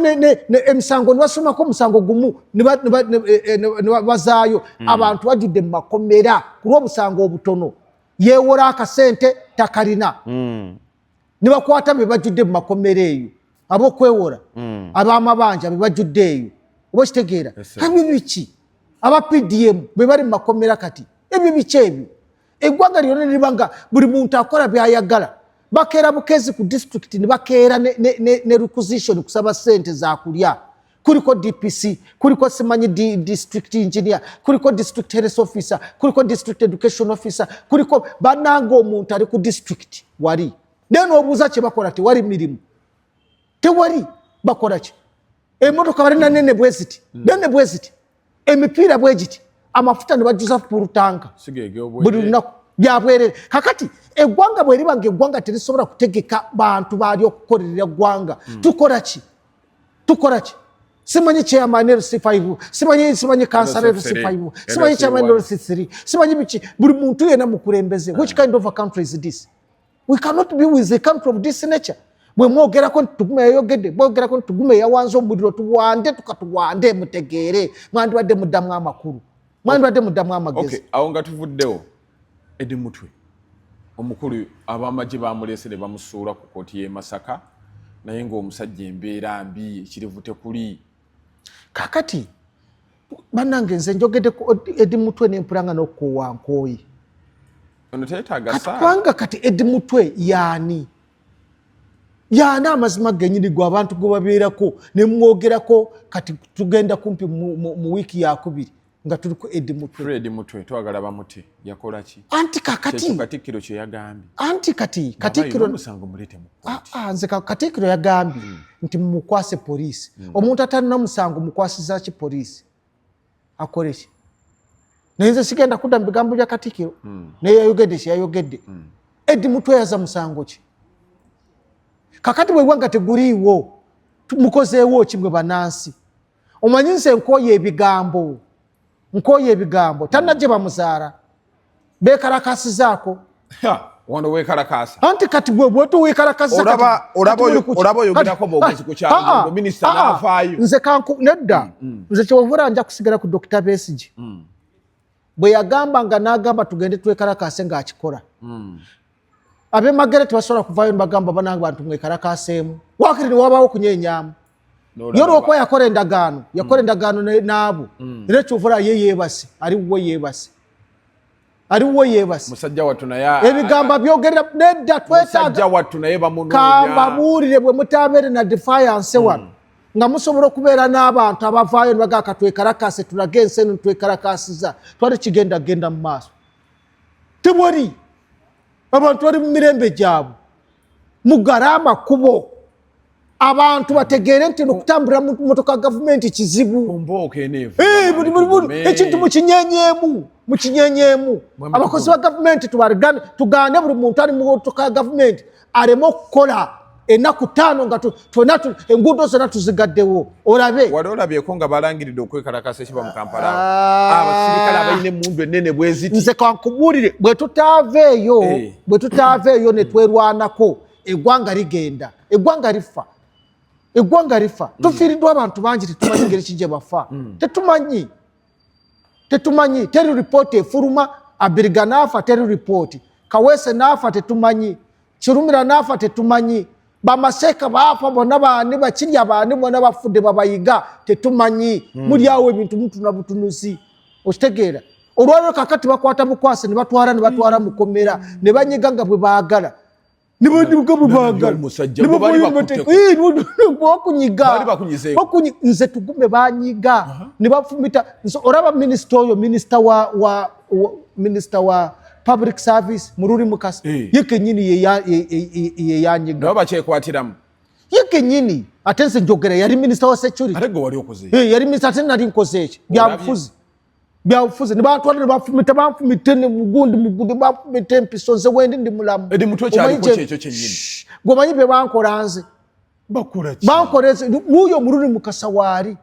emisango nibasomako omusango gumu nibazaayo eh, eh, mm. abantu bajudde mu makomera ku lwobusango obutono yewola akasente takalina nibakwata bebajudde mu makomera eyo abokwewola abamabanja bebajudde eyo oba okitegeera ebyo biki aba pdm bebali mu makomera kati ebyo biki ebyo eggwanga lyona neriba nga buli muntu akola byayagala bakeera bukezi ku disitulikiti nebakeera ne requisition kusaba sente zakulya kuliko dpc kuliko simanyi district engineer kuliko district health officer kuliko district education officer kuliko bananga omuntu ali ku district wali naye nobuuza kyebakola tewali mirimu tewali bakolaki emotoka balina nene bweziti hmm. nene bweziti emipiira bwe giti amafuta ne bajjuza pulutanka buli lunaku byabwerere kakati eggwanga bwe liba ngaeggwanga terisobola kutegeka bantu baali okukolerera eggwanga hmm. tukola ki tukola ki simanyi chairman lc five simanyi simanyi kansala lc five simanyi chairman lc three simanyi biki buli muntu yena mukulembeze which eh. kind of a country is this we cannot be with a country of this nature bwe mwogerako nti tugume yayogedde mwogerako nti tugume yawanze omuliro tuwande tukatuwande mutegeere mwandibadde muddamu amakulu mwandibadde muddamu amagezi awo nga tuvuddewo edi mutwe omukulu abamagye bamuleese ne bamusuula ku kooti y'e masaka naye ng'omusajja embeera mbi ekirivu tekuli kakati banange nze njogedde ku edi mutwe nempulanga nokukoowa nkooyi kubanga kati edi mutwe yaani yaani amazima genyini gwe abantu gwe babeerako ne mwogerako kati tugenda kumpi mu wiiki yakubiri nga tuli ku edi mutwe twagala bamuti yakola ki anti kakati katikkiro kye yagambye anti kati katikkiro musango mulete mu ah, ah, nze katikkiro yagambye hmm. nti mumukwase poliisi hmm. omuntu atalina musango mukwasiza ki poliisi akole ki naye nze sigenda kudda mu bigambo bya katikkiro hmm. naye yayogedde kye yayogedde edi mutweyaza musango ki kakati bwegwanga teguliiwo mukozeewo ki mwe banansi omanyi nze nkooye ebigambo nkooye ebigambo tanna gye bamuzaala bekalakasizaako wano wekalakasa anti kati gwe bwetu wekalakasa olaba olaba olaba yogerako bogezi ku kyalo ah, ah, minister ah, navayo nze kanku nedda mm, mm. nze kyovura nja kusigala ku Dr. Besige mm. bwe yagamba nga nagamba tugende twekalakase nga akikola mm. abemagere tebasobola kuvayo nibagamba banange bantu mwekarakaseemu wakiri niwabawo okunyenyamu ye olwokuba yakola endagaano yakola hmm. endagaano naabo hmm. era ekyovula ye yebase ali wuwo yebase ali wuwo yebase ebigambo byogerera nedda twetagakambabuulire bwe mutabeere na defiance hmm. wano nga musobola okubeera n'abantu abavaayo nibagaa katwekarakase tulage ensi eno nitwekarakasiza twali kigenda genda mu maaso tewali abantu bali mu mirembe gyabwe mugale amakubo abantu bategeere nti nokutambulira mu motoka gavumenti kizibu eh, ekintu mukinyenyemu mukinyenyemu abakozi ba gavumenti tugane buli muntu ali mu motoka ya gavumenti aleme okukola enaku taano nga tona enguudo zona tuzigaddewo olabe wali olabyeko nga balangiridde okwekalakasa ekiba mu kampala ah. abasirikale abalina emundu enene bweziti nze kankubuulire bwetutaava eyo eh. bwetutaava eyo netwerwanako eggwanga ligenda eggwanga lifa eggwanga lifa mm. tufiiriddwa abantu bangi tetumanyi ngeri kigye bafa mm. tetumanyi tetumanyi teri ripooti efuluma abiriga naafa teri ripooti kaweese naafa tetumanyi kirumira naafa tetumanyi bamaseeka baafa bona baani bakirya baani bona bafudde babayiga tetumanyi hmm. muli awo ebintu mutuna butunuzi okitegeera olwaliro kakati bakwata bukwasi ne batwala ne batwala mukomera ne banyiga nga bwe baagala nze tugume banyiga nebafumita oraba minisita oyo minisita wa minisita wa public service mururi mukasa eh. ye kenyini yeyanyiga nabo bakyekwatiramu ye kenyini ate nze njogera yari minisita wa security eh, yari minisita ate nari nkoze eki byabufuzi byabufuzi nebatwala nebafumita banfumita mugundi mugundi banfumita empiso nze wendi ndi mulamu gwemanyi byebankola nze bankola nze nuyo omuluni mukasa waali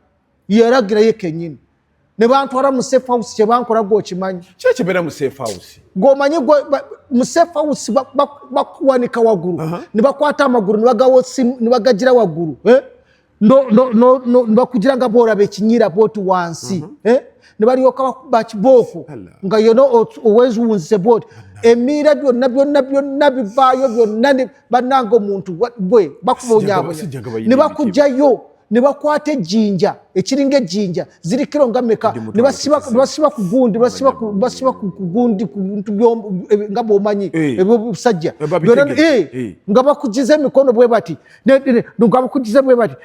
yalagirayo kenyini nebantwala mu safe house kyebankola gwe okimanyi kyekibeera mu safe house gwomanyi mu safe house bakuwanika waggulu nebakwata amagulu nebagagira waggulu eh? nebakugira nga bworaba ekinyira bwoti wansi mhm. eh? nebalyoka bakuba kibooko nga yona oweziwunzise bwoti emiira byonna byonna byonna bivaayo byonna bananga omuntu gwe bakuba onyabonya nebakujayo nebakwata ejjinja ekiringa ejjinja ziri kiro nga meka nebasiba ku gundi basiba ku gundi ku bintu nga bwomanyi eh. ebyo busajja eh, eh, nga bakujiza emikono bwe bati ngabakujiza bwe bati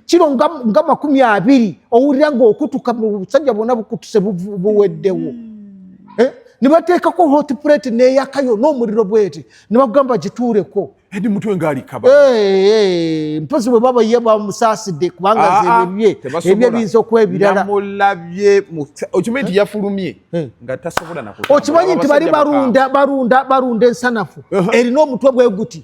kiro nga makumi abiri owulira ngaokutuka busajja bwona bukutuse buweddewo hmm. eh? nibateekako hot plate neyakayo n'omuliro bwete nibagamba gituuleko edi mutwe ngaalikaba eh, eh, mpozi bwe baba ye bamusaasidde kubanga ah, ah, ebye ebye biyinza okuba ebiralamulabye okimanyi nti yafulumye nga tasobola okimanyi nti bali balunda balunda balunda ensanafu erina omutwe bwe guti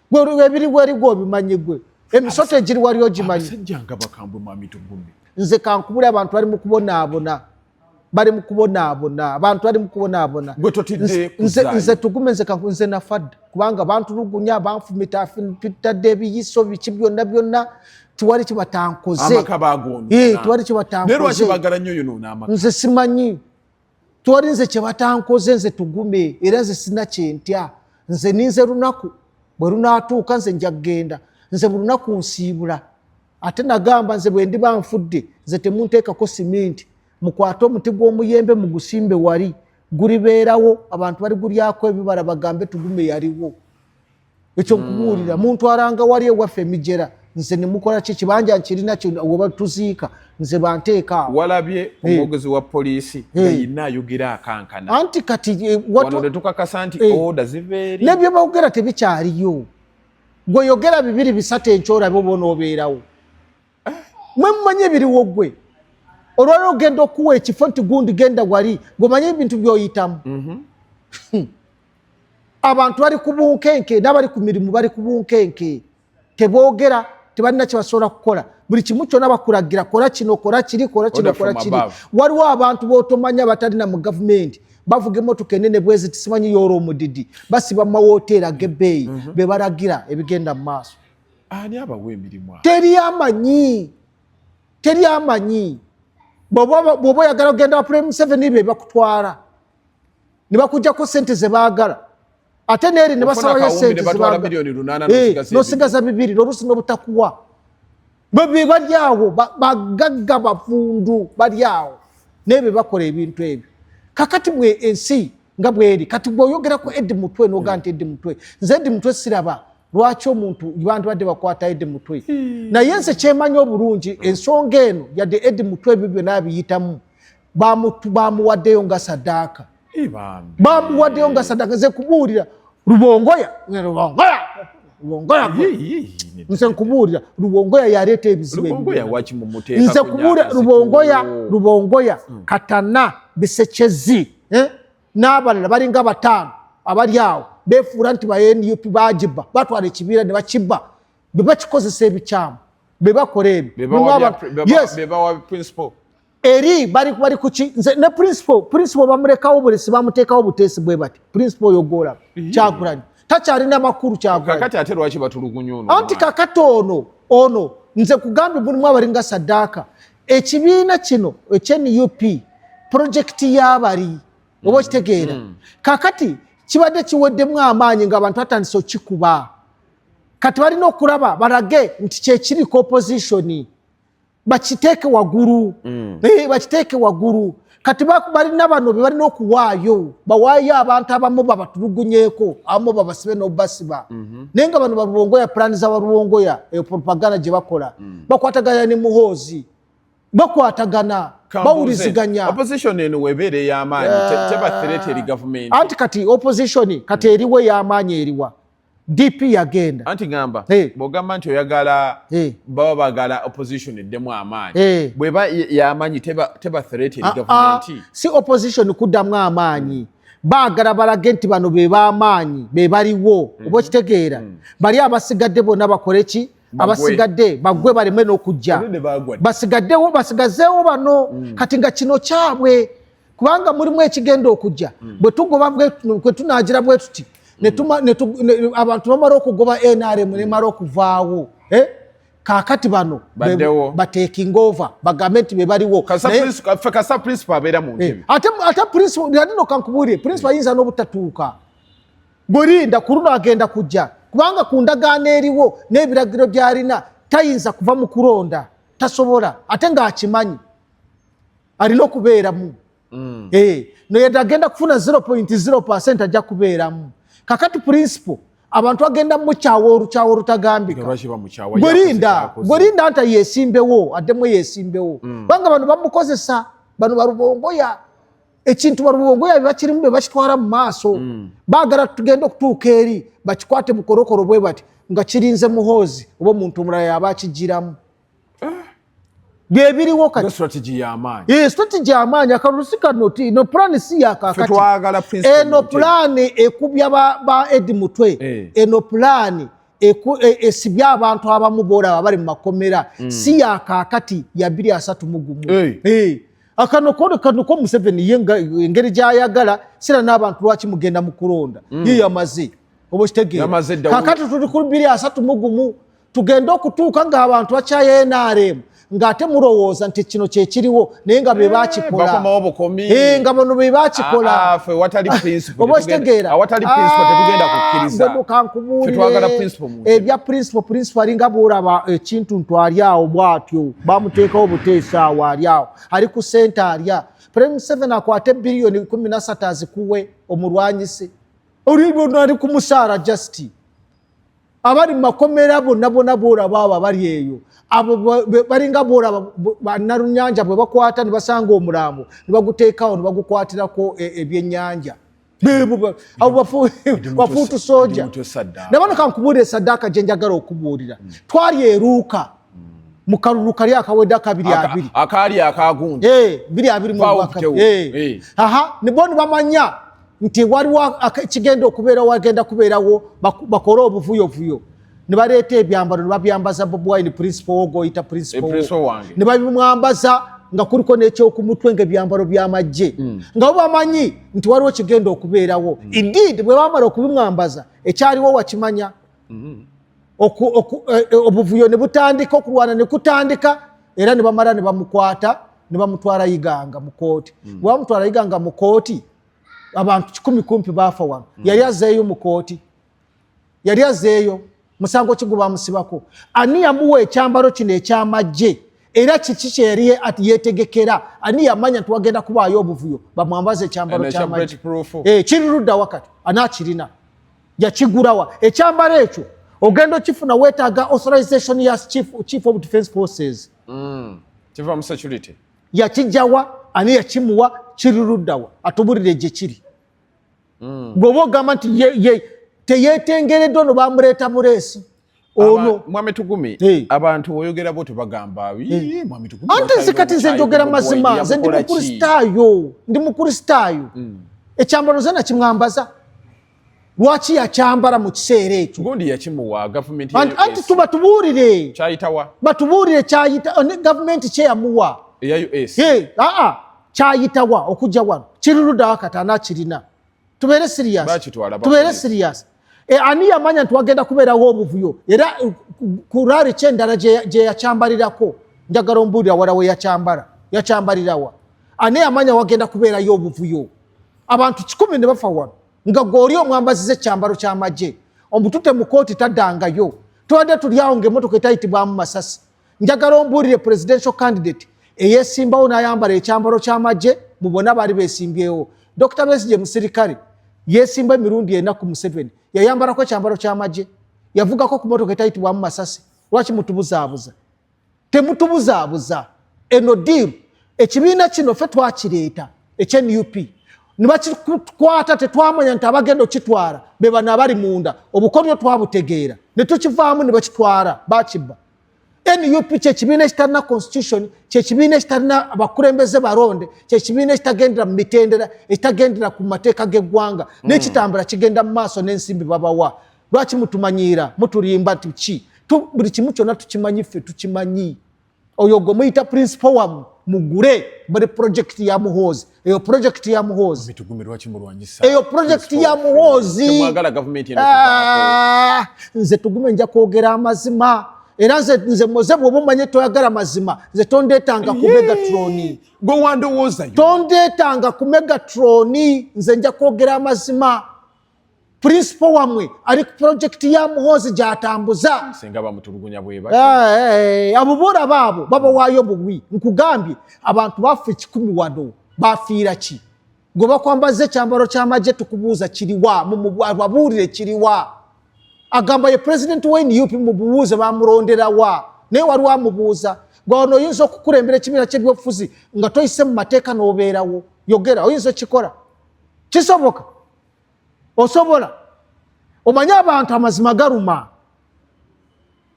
gwe ebiri weri gwe obimanyi gwe emisota egiri wali ogimanyi abasajja nga bakambwe mwami tugumye nze kankubule abantu bali mu kubonaabona bali mu kubonaabona abantu bali mu kubonaabona nze tugume nze kanku nze nafadda kubanga bantulugunya banfumita fitadde ebiyiso biki byonna byonna tiwali kibatankoze tiwali kibatankoze nze simanyi twali nze kyebatankoze nze tugume era nze sina kyentya nze ninze lunaku bwe lunatuuka nze nja kugenda nze mu lunaku nsiibula ate nagamba nze bwendiba nfudde nze temunteekako siminti mukwate omuti gw'omuyembe mugusimbe wali gulibeerawo abantu baligulyako ebibala bagambe tugume yaliwo ekyo nkubuulira mm. muntu aranga wali ewaffe emijera nze nemukola ki kibanja nkirina weba tuziika nze banteeka walabye eh. omwogezi wa poliisi yeyina eh. ayogera akankana anti kati eh, wano tetukakasa nti oda ziveeri nebyo bawogera tebikyaliyo gweyogera bibiri bisatu enkyorabe oba onoobeerawo mwe mumanyi ebiriwo gwe olwali ogenda okuwa ekifo nti gundi genda wali gwemanyi ebintu byoyitamu mhm. hmm. abantu bali ku bunkenke n'abali ku mirimu bali ku bunkenke teboogera tebalina kyebasobola kukola buli kimu kyona bakulagira kola kino kola kiri kola kino kola kiri waliwo abantu botomanya batalina mu gavumenti bavuga emotoka enene bwezi tisimanyi yoora omudidi basiba mu mawoteeri agebeeyi mhm. bebalagira ebigenda mu maaso teri amanyi teri amanyi bwoba oyagala kugenda wa prime seven bebakutwala ne bakujjako sente ze baagala ate neeri ne basalayo sente eh, nosigaza bibiri noluusi nobutakuwa bwe bali awo bagagga bavundu bali awo naye be bakola ebintu ebyo kakati bwe ensi nga bweri kati bweoyogera ku edi mutwe noga hmm. nti edi mutwe nze edi mutwe siraba lwaki omuntu bantu badde bakwata edi mutwe hmm. naye nze kyemanyi obulungi ensonga eno yadde edi mutwe ebyo byona abiyitamu bamuwaddeyo nga sadaaka bamuwaddeyo nga sadaaka nze kubuulira lubongoya lubongoya lubongoya nze nkubuulira lubongoya yaleeta ebizibu nze kubuulira lubongoya lubongoya hmm. katana bisekyezi eh? n'abalala balinga bataano abali awo befuula nti ba nup bagiba batwala ekibiira ne bakiba bebakikozesa ebikyamu bebakola ebyo eri bali bali kuki nze ne principal principal bamulekawo bulesi bamutekawo butesi bwe bati principal oyo gola mhm. kyakulani takyalina makulu kyakulani kakati ate lwaki batulugunya ono anti kakati ono ono nze kugambye mulimu abalinga saddaaka ekibiina kino ekyenup purojekiti y'abali oba mm. okitegeera mm. kakati kibadde kiweddemu amaanyi ngaabantu batandise okikuba kati balina okulaba balage nti kyekiri ku opozitioni bakiteeke wagulu mm. eh, bakiteeke wagulu kati balina bano bebalina okuwaayo bawaayo abantu abamu babatulugunyeko abamu babasibe nobasiba mhm. naye nga bano balubongoya pulani za balubongoya eyo propaganda gye bakola mm. bakwatagana ne muhoozi bakwatagana bawuliziganya opposition eno webeera ey'amaanyi eh. teba threat eri gavumenti anti kati opposition kati eriwo ey'amaanyi eriwa DP yagenda. Anti ngamba hey. bogamba nti oyagala hey. baba bagala opposition eddemu amaanyi hey. bweba yamanyi teba, teba threaten uh, ah, government uh, ah. si opposition kuddamu amaanyi mm. baagala balage nti bano be b'amaanyi be baliwo mm -hmm. oba okitegeera mm. bali abasigadde bonna bakole ki abasigadde bagwe mm. baleme n'okujja basigaddewo basigazeewo bano mm. kati nga kino kyabwe kubanga mulimu ekigenda okujja mm. bwe tugoba kwe tunagira bwe tuti mm. abantu bamala okugoba nrm nemala okuvaawo eh? kakati bano batekinga ova bagambe nti bebaliwo eh, ate principal nadino kankubuulire principal mm. ayinza n'obutatuuka gwelinda ku luno agenda kujja kubanga ku ndagaano eriwo n'ebiragiro byalina tayinza kuva mu kulonda tasobola ate ng'akimanyi alina okubeeramu mm. eh, noyeda agenda kufuna 0.0 percent ajja kubeeramu kakati principle abantu agenda mukyawa olukyawa olutagambikagwerinda gwerinda nta yesimbewo addemu yesimbewo mm. kubanga bano bamukozesa bano balubongoya ekintu balubongoya bebakirimu bebakitwala mu maaso mm. bagala tugenda okutuuka eri bakikwate mukorokoro bwe bati nga kirinze muhoozi oba omuntu omulala yaba akijiramu byebiriwo katistrategy yamaanyi eh, akalusi kano ti no pulaani si yakakati eno eh, pulaani ekubya ba edi mutwe eno eh. pulaani esibye abantu abamu boolaba bali mu makomera mm. si yakakati yabiri asatu mugumu akano kone kano ko museveni ye engeri gyayagala sira n'abantu lwaki mugenda mu kulonda mm. ye yamaze oba kitegeera kakati tuli ku biri asatu mugumu tugende okutuuka ng'abantu bakyaye nrm ng'ate mulowooza nti kino kyekiriwo naye nga be eh, bakikolaenga eh, bono be bakikolaobaokitegeerakankubuulire ebya principal principal alinga bwolaba ekintu eh, ntu ali awo bwatyo bamuteekawo obuteesa awo ali awo ali ku sente alya prime museven akwate biliyoni kumi nasatu azikuwe omulwanyise oli lwona ali ku musaala justi abali mu makomera bonna bona boolaba abo abali eyo abo balinga boolaba banalunyanja bwe bakwata ne basanga omulambo ne baguteekawo ne bagukwatirako e, ebyennyanja bafuutu soja nabano kankubuulira esaddaaka gye njagala okubuulira hmm. twali eruuka hmm. mu kalulu kali akawedde akabiri abiri akaali akagunja eh, biri abiri mu aha ne boni bamanya nti waliwo kigenda okubeera wagenda kubeerawo bakole obuvuyovuyo ne baleeta ebyambalo ne babyambaza bobi wine principal wo goyita principal wo ne babimwambaza nga kuliko nekyokumutwe nga ebyambalo byamajje hmm. nga bo bamanyi nti waliwo kigenda okubeerawo hmm. indeed bwe bamala okubimwambaza ekyaliwo wakimanya hmm. eh, eh, obuvuyo ne butandika okulwana ne kutandika era ne bamala ne bamukwata ne bamutwala iganga mu kooti bwe bamutwala iganga mu kooti abantu kikumi kumpi baafa wano mm. yali azeeyo mu kooti yali azeeyo musango ki gwebamusibako ani yamuwa ekyambalo kino ekyamajje era kiki kyeyali yetegekera ani yamanya nti wagenda kubaayo obuvuyo bamwambaza ekyambalo kyamajje eh, kiri ludda wakati ani akirina yakigulawa ekyambalo ekyo ogenda okifuna wetaaga authorization ya chief, chief of defense forces mm. kiva mu security yakijawa ani yakimuwa kiriruddawa atubulire gye kiri hmm. gweoba ogamba nti teyetengereddwa no bamuleeta bureesi ono mwami tugumi abantu oyogera bo tebagamba ante nze kati nze njogera mazima nze ndi mukristaayo ndi mukristaayo hmm. ekyambalo nze nakimwambaza lwaki yakyambala mu kiseera ekyo gundi yakimuwa gavumenti anti tuba tubuulire kyayitawa batubuulire kyayita eh, gavumenti kyeyamuwa eya us aa kyayitawa okujja wano kiri ludawa kati anakirina tubeere sirias tubeere sirias e, ani yamanya nti wagenda kubeerawo obuvuyo era eh, ku raari kyendala gye yakyambalirako njagala ombuulira wala we yakyambala yakyambalirawa ani yamanya wagenda kubeerayo obuvuyo abantu kikumi ne bafa wano nga gweoli omwambaziza ekyambalo kyamagye omutute mukooti tadangayo tubadde tulyawo nga emotoka etayitibwamu masasi njagala ombuulire presidential candidate eyesimbawo nayambala ekyambalo kyamagye mubona baali besimbyewo dr besije musirikale yesimba emirundi ena ku museveni yayambalako ekyambalo kyamagye yavugako ku motoka etayitibwamu masasi lwaki mutubuzaabuza temutubuzaabuza eno diiru ekibiina kino fe twakireeta ekya nup nebakikwata tetwamanya nti abagenda okitwala bebano abali munda obukodyo twabutegeera netukivaamu nebakitwala bakibba nup kyekibiina ekitalina constitution kyekibiina ekitalina abakulembeze balonde kyekibiina ekitagendera mu mitendera ekitagendera ku mateeka g'eggwanga mm. nekitambula kigenda mu maaso n'ensimbi babawa lwaki mutumanyiira mutulimba nti ki buli kimu kyonna tukimanyi ffe tukimanyi oyo gwe muyita principal wamu mugule bali project ya muhoozi eyo project ya muhoozi eyo project ya muhoozi ah, nze tugume nja kwogera amazima era nze nze moze bwoba omanye toyagala mazima nze tondeetanga ku megatroni tondeetanga ku megatroni nze nja kwogera amazima principal wamwe ali ku project ya muhozi gyatambuza singa bamutulugunya bweba eh, eh, abo bora babo baba wayo bubwi nkugambye abantu bafe kikumi wado bafiira ki gwe bakwambaza ekyambalo kyamagye tukubuuza kiriwa mumubabuulire kiriwa agamba ye president wa nup mububuuze bamulonderawa naye waliwo amubuuza gwaona oyinza okukulembera ekibiina kyebyobufuzi nga toyise mu mateeka n'obeerawo yogera oyinza okikola kisoboka osobola omanyi abantu amazima galuma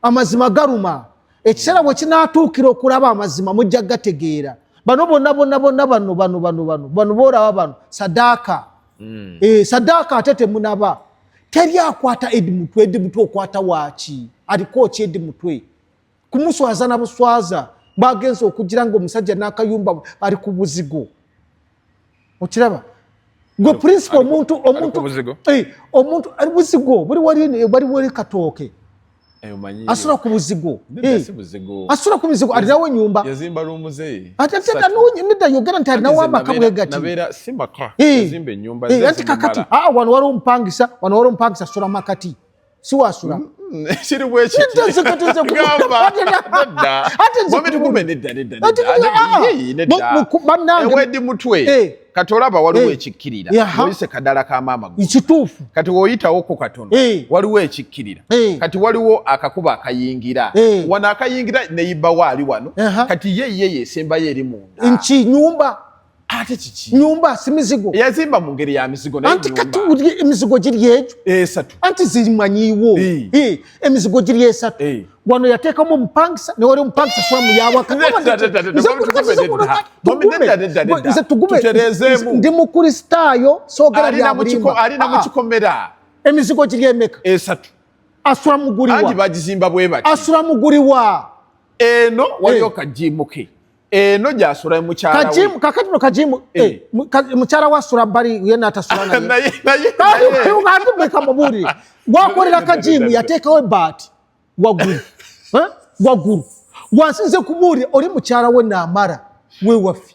amazima galuma ekiseera bwe kinatuukira okulaba amazima mujja gategeera bano bonna bonna bonna bano bano bano bano bano boolaba bano sadaaka mm. e, sadaaka ate temunaba teri akwata edi mutwe edi mutwe okwata waaki aliko ki edi mutwe kumuswaza na buswaza bagenze okugira nga omusajja n'akayumba ali ku buzigo okiraba gwe principal omuntu omuntu eh, omuntu ali buzigo buli wali bali wali katooke eh, asula ku buzigo eh, asula ku buzigo alinawo enyumba nedda yogera nti alinawo amaka bwegati anti kakati ah, wano waliwo omupangisa wano waliwo omupangisa asula makati siwasula mm, mm, kiri bwekiwedi mutwe eh. kati olaba waliwo eh. ekikkirira oyise kadala ka maama kituufu kati woyitawo ku katono eh. waliwo ekikkirira kati waliwo akakuba akayingira wano akayingira neyibawo ali wano kati ye ye yesembayo eri munda nki nyumba ate kiki nyumba si mizigo yazimba mu ngeri ya mizigo naye anti kati uli emizigo giri ejo esatu anti ziri manyiwo eh emizigo giri esatu e. wano yateka mu mpangisa ne wali mpangisa swa mu yawa kama nze tugume tuterezemu ndi mu kristayo so gara ya mulimba ali na mukikomera ah. emizigo giri emeka esatu asura muguriwa anti bagizimba bwebati asura muguriwa eno wali okajimuke eh. eno gyasula mukyalawe kakati no kajimu eh. eh, mukyala wasula bali yena atasula nayeatumeka mubuli gwakolera kajimu yateekawo ebaati waggulu eh? waggulu gwansinze kubuulira oli mukyala we naamara wewaffe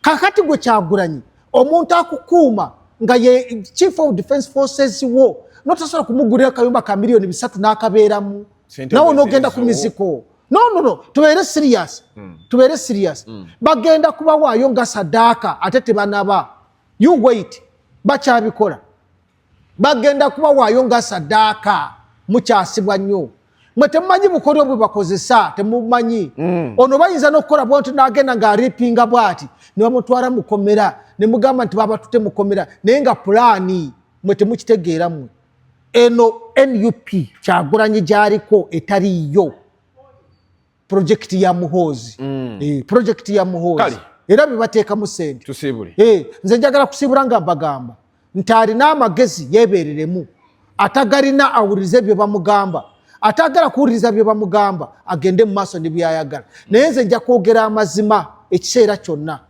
kakati gwe kyagulanyi omuntu akukuuma nga ye chief of defense forces wo notasobola kumugulira akayumba ka miliyoni bisatu n'akabeeramu nawe onogenda ku miziko no no no tubeere serious mm. tubeere serious mm. bagenda kubawaayo nga sadaaka ate tebanaba you wait bakyabikola bagenda kubawaayo nga sadaaka mukyasibwa nnyo mwe temumanyi bukodyo bwe bakozesa temumanyi mm. ono bayinza n'okukola bwantu n'agenda ng'aripinga bwati ne bamutwala mukomera ne mugamba nti babatute mukomera naye nga pulaani mwe temukitegeera mwe eno nup kyagulanyi gyaliko etaliiyo project ya muhoozi mm. eh, project ya muhoozi era bebateekamu sente tusiibule eh, nze njagala kusiibula nga mbagamba nti alina amagezi yebereremu atagalina awuliriza ebyo bamugamba atagala kuwuliriza bye bamugamba agende mu maaso ne byayagala naye nze nja kwogera amazima ekiseera kyonna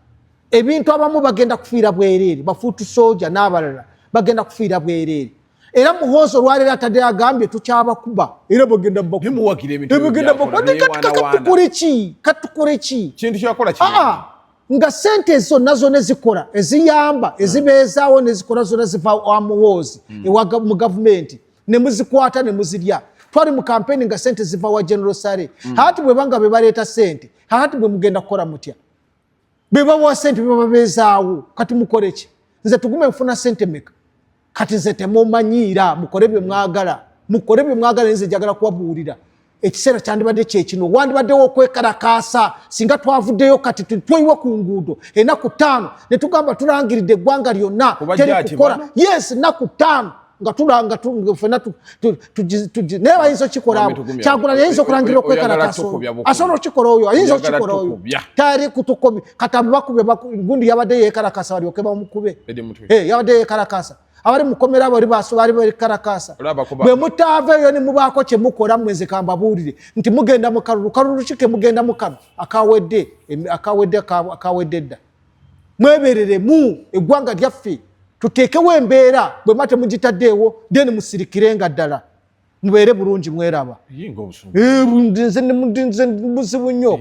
ebintu abamu bagenda kufiira bwereere bafuutu sooja n'abalala bagenda kufiira bwereere era muhoozi olwaleero atadde agambye tukyabakuba era bwegenda bakubaebigendabakubatukurikikintu kyakolaa nga sente zonna zona ezikola eziyamba hmm. ezibeezaawo nezikola zona ziva wa muhoozi hmm. ewa mu gavumenti nemuzikwata nemuzirya twali mu kampeni nga sente ziva wa general sare hmm. hati bwebanga bebaleeta sente hati bwemugenda kukola mutya bebawa sente bebabeezaawo kati mukoleki nze tugume nfuna sente meka kati nze temumanyiira mukole bye mwagala mukole bye mwagala nze njagala kubabuulira ekiseera kyandibadde kyekino wandibaddewo okwekalakaasa singa twavuddeyo kati tweyiwe ku nguudo enaku ttaano ne tugamba tulangiridde eggwanga lyonna teri kukola yes enaku ttaano nga tulanga fena naye bayinza okikola abo kyagula yayinza okulangira okwekalakasa asobola okikola oyo ayinza okikola oyo tayali kutukomi katambi bakube gundi yabadde yekalakasa balyoke bamukube eh, yabadde yekalakasa abali mukomera abali basobali balikarakasa bwe mutaaveeyo ne mubaako kye mukola mweze kambabuulire nti mugenda mu kalulu kalulu ki ke mugenda mu kano akawedde akawedde akawedde dda mwebereremu eggwanga lyaffe tuteekewo embeera bwe mba temugitaddeewo then musirikire nga ddala mubeere bulungi mweraba nze muzibu nnyo